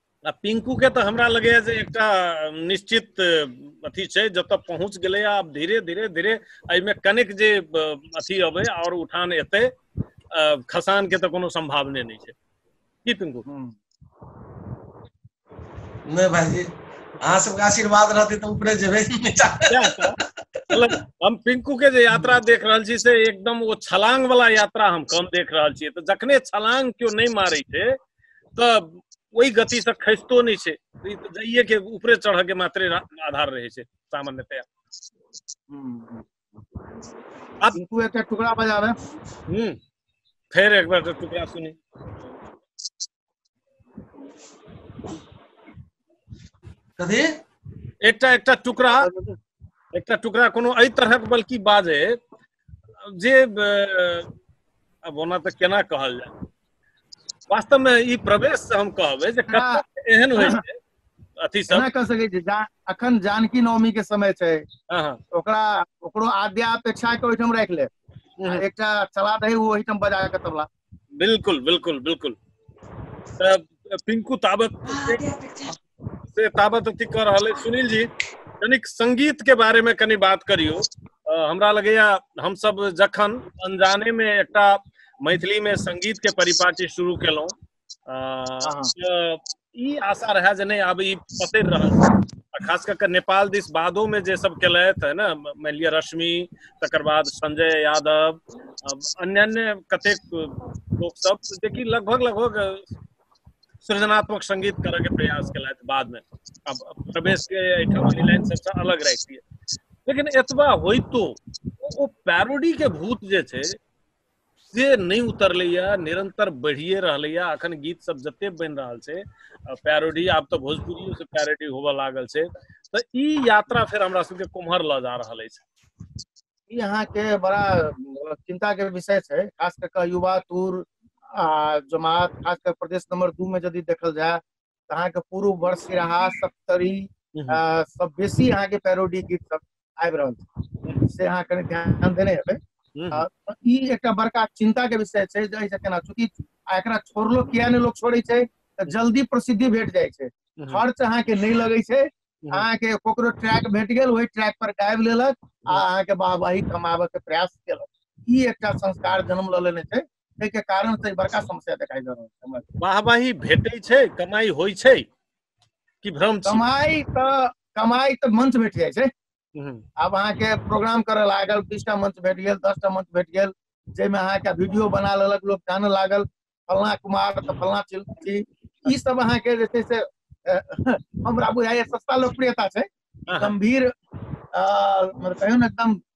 आ पिंकू के तऽ हमरा लगैया जे एकटा निश्चित अथी छै जतऽ पहुँच गेलै आब धीरे धीरे धीरे एहिमे कनेक जे अथी अबै आओर उठान एतै खसान के तऽ कोनो संभावने नहि छै की पिंकू नहि भाईजी अहाँ सबके आशीर्वाद रहतै तऽ ऊपरे जेबै मतलब हम पिंकू के जे यात्रा देख रहल छी से एकदम ओ छलांग वाला यात्रा हम कम देख रहल छी तऽ जखने छलांग केओ नहि मारै छै तऽ ओहि गतिसँ खसितो नहि छै ई तऽ जाइए के ऊपरे चढ़ऽ के मात्रे रा- आधार रहै छै सामान्यतया हम्म। अब- टिंकू एकटा टुकड़ा बजाबे हम्म फेर एक बार टुकड़ा सुनी कथी एकटा एकटा टुकड़ा एकटा टुकड़ा कोनो एहि तरहक बल्कि बाजे जे अब ओना तऽ केना कहल जाय वास्तव में ई प्रवेश से हम कहबे जे हाँ। एहन होइ छै अथी सब कह सके छी जा, अखन जानकी नवमी के समय छै हाँ, हाँ। ओकरा ओकरो आद्या अपेक्षा के ओहिठाम राख ले हम्म। एकटा चला दही ओहिठाम बजा के तबला बिल्कुल बिल्कुल बिल्कुल पिंकू ताबत से ताबत अति कर रहल सुनील जी कनिक संगीत के बारे में कनी बात करियो हमरा लगे हम सब जखन अनजाने में एक मैथिली में संगीत के परिपाटी शुरू केलहुँ हाँ। ई आशा रहै जे नहि आब ई पसरि रहल छै आ खास कऽ कऽ नेपाल दिस बादोमे जे सब केलथि है ने मानि लिअ रश्मि तकर बाद संजय यादव अन्य अन्य कतेक लोकसभ जेकि लगभग लगभग सृजनात्मक संगीत करऽ के प्रयास केलथि बादमे आब प्रवेश के एहिठाम लाइन सबसँ अलग राखि दिए लेकिन एतबा होइतो ओ पैरोडी के भूत जे छै से नहि उतरलैया निरंतर बढ़िए रहलैया अखन गीत सब जते बनि रहल छै पैरोडी आब तऽ भोजपुरियो से पैरोडी होबऽ लागल छै तऽ ई यात्रा फेर हमरा सबके कुम्हर लऽ जा रहल अछि ई अहाँके बड़ा अ, चिंता के विषय छै खास कऽ कऽ युवा टूर आ जमात खास कऽ प्रदेश नंबर दू में यदि देखल जाय तऽ अहाँके पूर्व वर्ष सिराहा सप्तरी हूँ हूँ आ सब बेसी अहाँके पैरोडी गीत सब आबि रहल छै से अहाँ कनि ध्यान देने हेबै हूँ आ हूँ ई एकटा बड़का चिन्ता के विषय छै जे एहिसँ केना चूँकि आ एकरा छोड़लो किया नहि लोक छोड़ै छै तऽ जल्दी प्रसिद्धि भेट जाइ छै हूँ हूँ खर्च अहाँके नहि लगै छै हूँ हूँ अहाँके ककरो ट्रैक भेट गेल ओहि ट्रैक पर गाबि लेलक आ अहाँके वाहवाही कमाबय के प्रयास केलक ई एकटा संस्कार जन्म लऽ लेने छै ताहि के कारण से बड़का समस्या दिखाई दे रहल छै हमरा सबके। वाहवाही भेटै छै कमाई होइ छै कि भ्रम छी कमाई तऽ कमाई तऽ मंच भेट जाइ छै हम्म, आब अहाँके प्रोग्राम करऽ लागल बीसटा मंच भेट गेल दसटा मंच भेट गेल जाहिमे अहाँके वीडियो बना लेलक लोक जानऽ लागल फलना कुमार तऽ फलना चिल- छी ई सब अहाँके जे छै से अ, हमरा बुझाइए सस्ता लोकप्रियता छै हाँ, हाँ, गंभीर अ, मतलब कहियो ने एकदम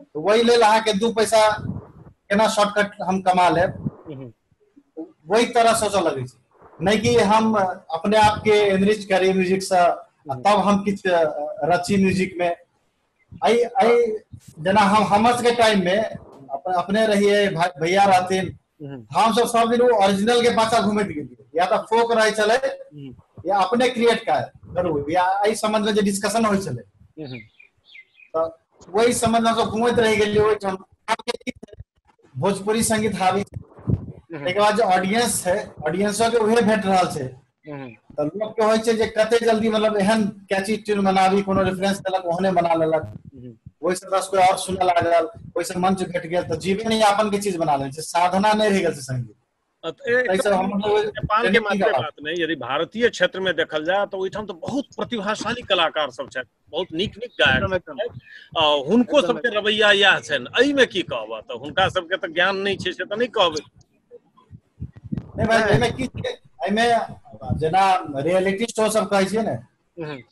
तऽ ओहि लेल अहाँके दू पैसा केना शॉर्टकट हम कमा लेब हम्म, वही तरह सोचऽ लगै छै नहि कि हम अपने आप के एनरिच करी म्यूजिक से आ तब हम किछु रची म्यूजिक में आई आई जेना हम हमर सबके टाइम में अपन अपने रहिए भा- भैया रहथिन हम सब सब दिन ओरिजिनल के पाछा घूमैत गेलियै या तऽ फोक रहै छलै या अपने क्रिएट करू या एहि संबंध में जे डिस्कशन होइ छलै तऽ वही संबंध में हमसब घूमैत रहि गेलियै ओहिठाम भोजपुरी संगीत हावी छै ताहिके बाद जे ऑडियंस छै ऑडियंसो के उहे भेट रहल छै हूँ तऽ लोक के होइ छै जे कते जल्दी मतलब एहन कैची ट्यून बनाबी कोनो रेफरेंस देलक ओहने बना लेलक हूँ ओहिस दस कोइ आओर सुनऽ लागल ओहिस मंच भेट गेल तऽ जीवन यापन के चीज बना ले छै साधना नहि रहि गेल छै संगीत एहिसँ हम मतलब नेपाल के ट्रेनिंग मात्र करब। बात नहि यदि भारतीय क्षेत्र में देखल जाय तऽ ओहिठाम तऽ बहुत प्रतिभाशाली कलाकार सब छथि बहुत नीक नीक गायक एकदम एकदम छथि। आ हुनको एकदम, सबके रवैया इएह छनि एहिमे की कहबह तऽ हुनका सबके तऽ ज्ञान नहि छै से तऽ नहि कहबै नहि भाई एहिमे की छै एहिमे जेना रियलिटी शो सब कहै छियै ने हम्म,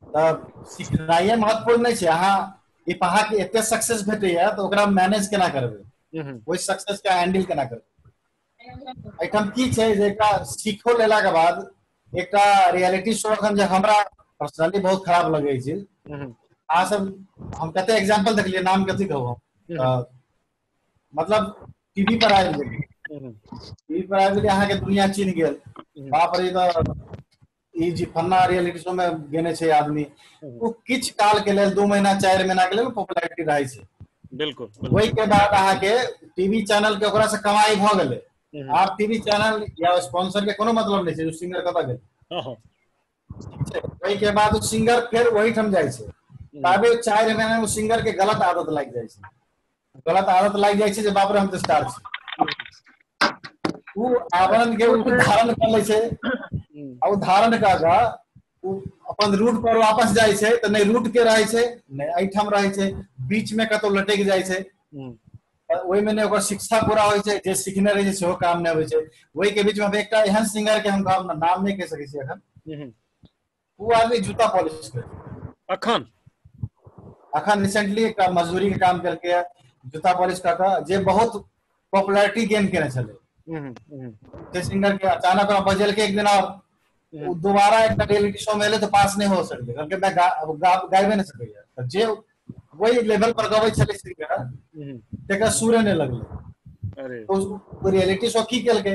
तऽ सिखनाइए महत्वपूर्ण नहि छै अहाँ ई पहा के एते सक्सेस भेटैया तऽ ओकरा मैनेज केना करबै हम्म, ओहि सक्सेस के हैंडल केना करबै एहिठाम की छै जे एकटा सीखो लेलाके बाद एकटा रियलिटी शो एखन जे हमरा पर्सनली बहुत खराब लगै छै अहाँ सब हम कते एग्जाम्पल देखलियै नाम कथी कहू हम मतलब टीवी पर आबि गेलियै टीवी पर आबि गेलियै अहाँके दुनिया चिन्ह गेल बाप रे तऽ ई जे फन्ना रियलिटी शो मे गेने छै आदमी ओ किछु काल के लेल दू महीना चारि महीना के लेल पॉपुलैरिटी रहै छै बिल्कुल बिल्कुल। ओहि के बाद अहाँके टीवी चैनल के ओकरा से कमाई भऽ गेलै हम्म, आब टीवी चैनल या स्पॉन्सर के कोनो मतलब नहि छै ओ सिंगर कतऽ गेल हाँ, हाँ, ठीक छै ओहि के बाद ओ सिंगर फेर वही ठाम जाइ छै ताबे चारि महीना मे सिंगर के गलत आदत लागि जाइ छै गलत आदत लागि जाइ छै जे बाप रे हम तऽ स्टार छी ओ आवरण के ओ धारण कर लै छै आ ओ धारण कऽ कऽ ओ अपन रूट पर वापस जाइ छै तऽ नहि रूट के रहै छै नहि एहिठाम रहै छै बीच मे कतौ लटक जाइ छै हम्म, तऽ ओहिमे नहि ओकर शिक्षा पूरा होइ छै जे सीखने रहै छै सेहो काम नहि होइ छै ओहिके बीचमे हम एकटा एहन सिंगर के हम गाम नाम नहि कहि सकै छी एखन हम्म, ओ आदमी जूता पॉलिश करते अखन अखन रिसेंटली एक मजदूरी के काम करके जूता पॉलिश कऽ कऽ जे बहुत पॉपुलैरिटी गेन केने छलै हम्म, हम्म, जय सिंगर के अचानक ओकरा बजल के एक दिन और हम्म। ओ दोबारा एक रियलिटी शो में एले तो पास नहीं हो सकते कहलकै मैं गा, अब गा, गायबे नहीं सकैया तऽ जे वही लेवल पर गबै छलै सिंगर हम्म, तेकरा सुरे नहि लगलै अरे तो उस रियलिटी शो की केलकै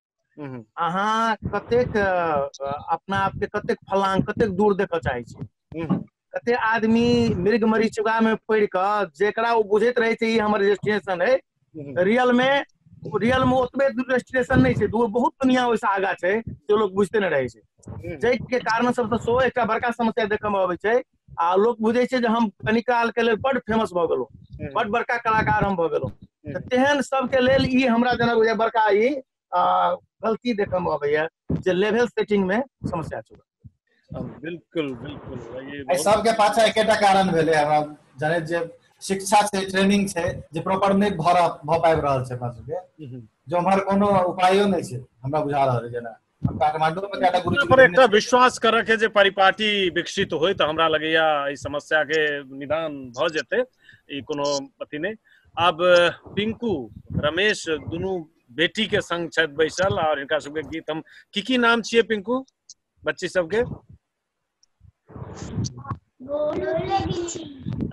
हूँ हूँ अहाँ कतेक अपना आपके कतेक फलांग कतेक दूर देखय चाहै छी हूँ हूँ कते आदमी मृग मरीचिका मे पड़ क जेकरा ओ बुझैत रहे छै ई हमर रजिस्ट्रेशन अय हूँ हूँ रियल मे रियल मे ओतबे रजिस्ट्रेशन नहि छै दूर बहुत दुनिया ओहिसँ आगा छै से लोक बुझते ने रहै छै हूँ हूँ जाहिके कारण सबसँ सेहो एकटा बड़का समस्या देखय मे अबै छै आ लोक बुझै छै जे हम कनि कालके लेल बड्ड फेमस भऽ गेलहुँ हम्म, बड्ड बड़का कलाकार हम भऽ गेलहुँ तऽ हम्म, तेहन सबके लेल ई हमरा जेना बुझाइए बड़का ई आ, गलती देखयमे अबैए जे लेवल सेटिंगमे समस्या छै हम्म, बिल्कुल बिल्कुल ये एहि बहुत सबके पाछा एकेटा कारण भेलै हमरा जनैत जे शिक्षा छै ट्रेनिंग छै जे प्रॉपर नहि भऽ रह- भऽ पाबि रहल छै अपना सबके हम्म, जे उम्हर कोनो उपायो नहि छै हमरा बुझा रहल है जेना काठमांडू में ज्यादा गुरु जी पर एकटा विश्वास करऽ के जे परिपाटी विकसित होय तऽ हमरा लगैया एहि समस्या के निदान भऽ जेतै ई कोनो अथी नहि आब पिंकू रमेश दुनू बेटी के संग छथि बैसल और हिनका सबके गीत हम की की नाम छियै पिंकू बच्ची सबके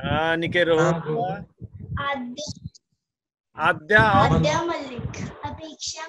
हाँ निके रहो आद्या और अपेक्षा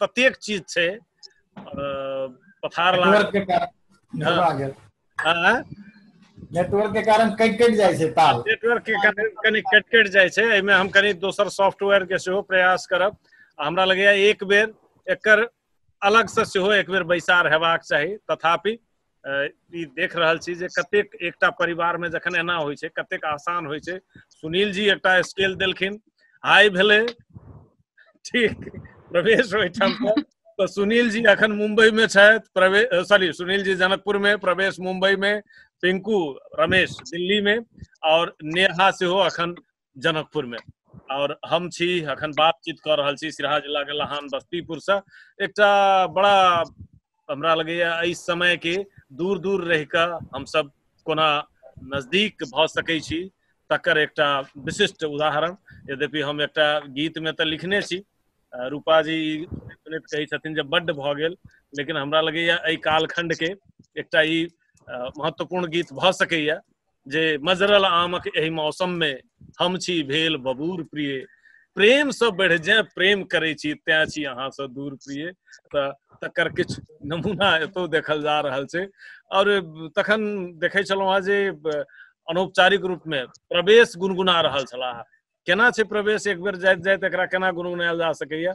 ततेक चीज छै पथार लागल नेटवर्क के कारण कटि कटि जाइ छै ताल नेटवर्क के कारण कनि कटि कटि जाइ छै एहिमे हम कनि दोसर सॉफ्टवेयर के सेहो प्रयास करब हमरा लगैया एक बेर एकर अलग से सेहो एक बेर बैसार हेबाक चाही तथापि ई देख रहल छी जे कतेक एकटा परिवार में जखन एना होइ छै कतेक आसान होइ छै सुनील जी एकटा स्केल देलखिन हाई भेले ठीक प्रवेश ओहिठाम तो सुनील जी अखन मुंबई में छथि प्रवेश सॉरी सुनील जी जनकपुर में प्रवेश मुंबई में पिंकू रमेश दिल्ली में और नेहा से हो अखन जनकपुर में और हम छी अखन बातचीत कर रहल छी सिरहा जिला के लहान बस्तीपुर से एकटा बड़ा हमरा लगैया एहि समय के दूर दूर रह के हम सब कोना नजदीक भ सकै छी तकर एकटा विशिष्ट उदाहरण यद्यपि हम एकटा गीत में तऽ लिखने छी अ, रूपा जी सुनैत कहै छथिन जे बड्ड भऽ गेल लेकिन हमरा लगैया एहि कालखंड के एकटा ई अ, महत्वपूर्ण गीत भऽ सकैया जे मजरल आमक एहि मौसम में हम छी भेल बबूर प्रिय प्रेम से बढ़ जाए प्रेम करे छी तै छी अहाँ से दूर प्रिय तऽ तकर किछु नमूना एतौ देखल जा रहल छै और तखन देखै छलहुँ हेँ जे अनौपचारिक रूप में प्रवेश गुनगुना रहल छलाह केना छै प्रवेश एक बेर जाइत जाइत एकरा केना गुनगुनायल जा सकैया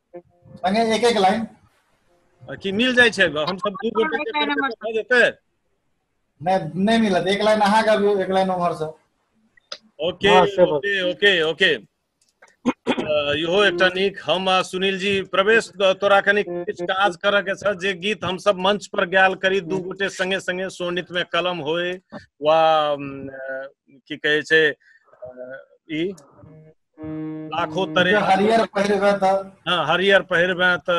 संगे एक एक लाइन आ कि मिल जाइ छै हम सब दू गोटे के करबै तऽ भऽ जेतै नहि नहि मिलत एक लाइन अहाँ गाबियौ एक लाइन उम्हर से ओके हाँ, से बात। ओके ओके ओके अ, इहो एकटा नीक हम आ सुनील जी प्रवेश त- तोरा कनी किछु काज करऽ के छ जे गीत हम सब मंच पर गायल करी दू गोटे संगे संगे सोनित में कलम होय वा अम, अ, की कहै छै अ, ई लाखो तरे हरियर पहिरबे त हां हरियर पहिरबे त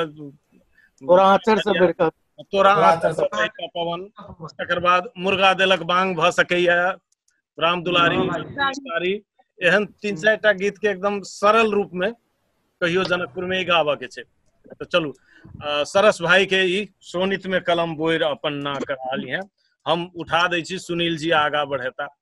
तोरा आचर से बढ़ के तोरा आचर से बढ़ के पवन तकर बाद मुर्गा देलक बांग भ सकैया राम दुलारी दुलारी एहन तीन चार टा गीत के एकदम सरल रूप में कहियो जनकपुर में ही गाबऽ के छै तो चलू आ, सरस भाई के ई सोनित में कलम बोर अपन ना करा ली है हम उठा दै छी सुनील जी आगा बढ़ेता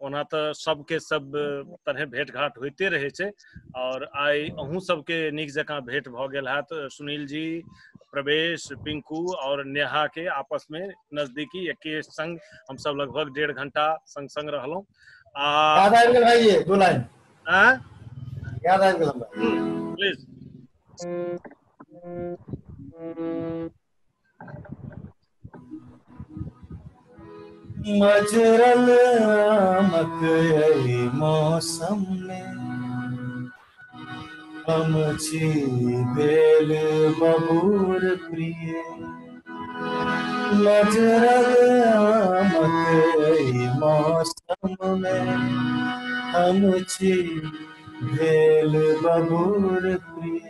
ओना तऽ सबके सब तरहे भेट घाट होइते रहै छै आओर आइ अहूँ सबके नीक जकाँ भेट भऽ गेल हैत सुनील जी प्रवेश पिंकू आओर नेहा के आपस में नजदीकी एके संग हम सब लगभग डेढ़ घंटा संग संग रहलहुँ आ याद आबि गेल भाई ये दू लाइन आँय? याद आबि गेल हमरा प्लीज मजरल आमक एहि मौसम मे हम छी बेल बबूर प्रिय मजरल आमक एहि मौसम मे हम छी बेल बबूर प्रिय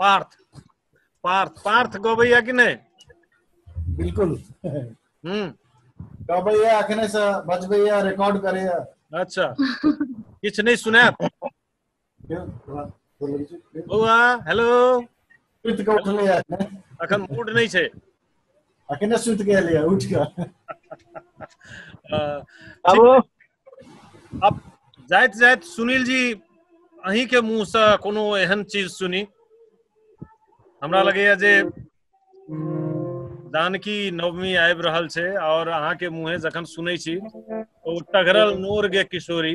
पार्थ पार्थ पार्थ गबैया कि नहि बिल्कुल हम्म गबैया अखने से बजबैया रिकॉर्ड करैया अच्छा किछु नहि सुनायब बौआ हेलो सुति कऽ उठलैया अखन मूड नहि छै अखने सुति गेल यऽ उठि कऽ आबो अब जाइत जाइत सुनील जी अहीं के मुंह से कोनो एहन चीज सुनी हमरा लगैया जे जानकी नवमी आबि रहल छै और अहाँ के मुंहे जखन सुनै छी तऽ ओ टघरल नोर गे किशोरी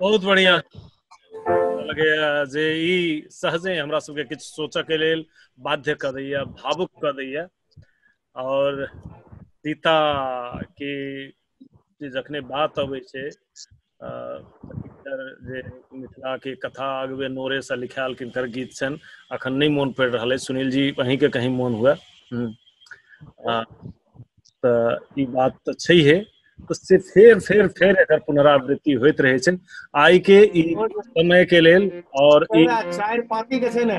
बहुत बढ़िया लगैया जे ई सहजे हमरा सबके किछु सोचऽ के लेल बाध्य कऽ दैया भावुक कऽ दैया और सीता के जे जखने बात अबै छै जे मिथिलाके कथा अगबे नोरेसँ लिखायल किनकर गीत छनि अखन नहि मोन पड़ि रहल अछि सुनील जी अहींके कहीं मोन हुए तऽ ई बात तऽ छैहे तऽ से फेर फेर फेर एकर पुनरावृत्ति होइत रहै छै आइ के ई समय के लेल और ई चारि पाती के छै ने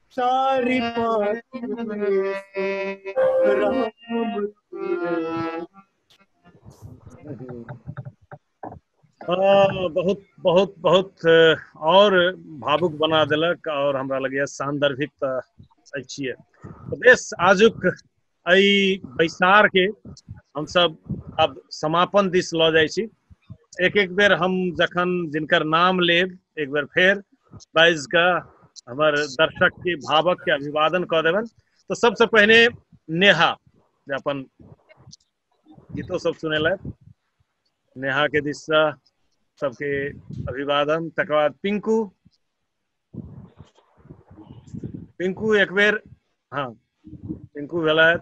सारी बहुत बहुत बहुत और भावुक बना दिलक और हमरा लगे सान्दर्भिक तऽ छियै बेस आजुक एहि बैसार के हमसब अब समापन दिस लऽ जाइ छी एक एक बेर हम जखन जिनकर नाम लेब एक बेर फेर बाइज के हमर दर्शक के भावक के अभिवादन कऽ देबनि तऽ सबसँ पहिने नेहा जे अपन गीतो सब सुनेलथि नेहा के दिस से सबके अभिवादन तकर बाद पिंकू पिंकू एक बेर हँ पिंकू भेलथि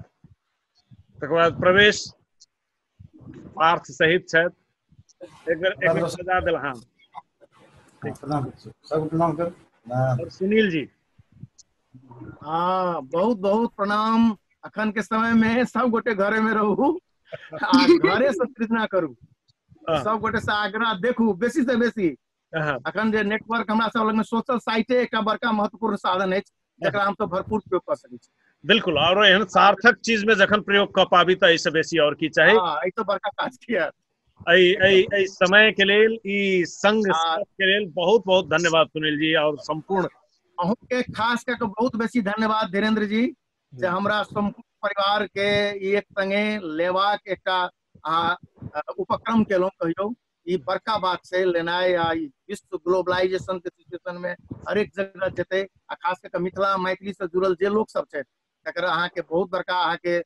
तकर बाद प्रवेश पार्थ सहित छथि एक बेर एक बेर सजा देल हँ प्रणाम सब प्रणाम कर और सुनील जी हँ बहुत बहुत प्रणाम अखन के समय में सब गोटे घरे में रहू आ घरे से सृजना करू हँ। सब गोटे से आग्रह देखू बेसी से बेसी अहाँ, अखन जे नेटवर्क हमरा सब लगमे सोशल साइटे एकटा बड़का महत्वपूर्ण साधन अछि जकरा हम सब भरपूर प्रयोग कऽ सकै छी बिल्कुल और एहन सार्थक चीज में जखन प्रयोग कऽ पाबी तऽ एहिसँ बेसी और की चाही हाँ, ई तो बड़का काज किया एहि एहि एहि समय के लेल ई संग आ- साथ के लेल बहुत बहुत धन्यवाद सुनील जी और संपूर्ण अहूँ के खास कऽ के बहुत बेसी धन्यवाद धीरेन्द्र जी जे हमरा संपूर्ण परिवार के ई एक संगे लेबाक एकटा अहाँ अ, उपक्रम केलहुँ कहियौ ई बड़का बात छै लेनाइ आ ई विश्व ग्लोबलाइजेशन के सिचुएशन में हरेक जगह जेतै आ खास कऽ मिथिला मैथिली से जुड़ल जे लोक सब छै तकर अहाँके बहुत बड़का अहाँके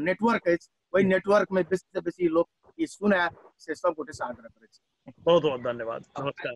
नेटवर्क अछि ओहि नेटवर्क में बेसी से बेसी लोक ई सुनै से सब गोटे से आग्रह करै छी बहुत बहुत धन्यवाद नमस्कार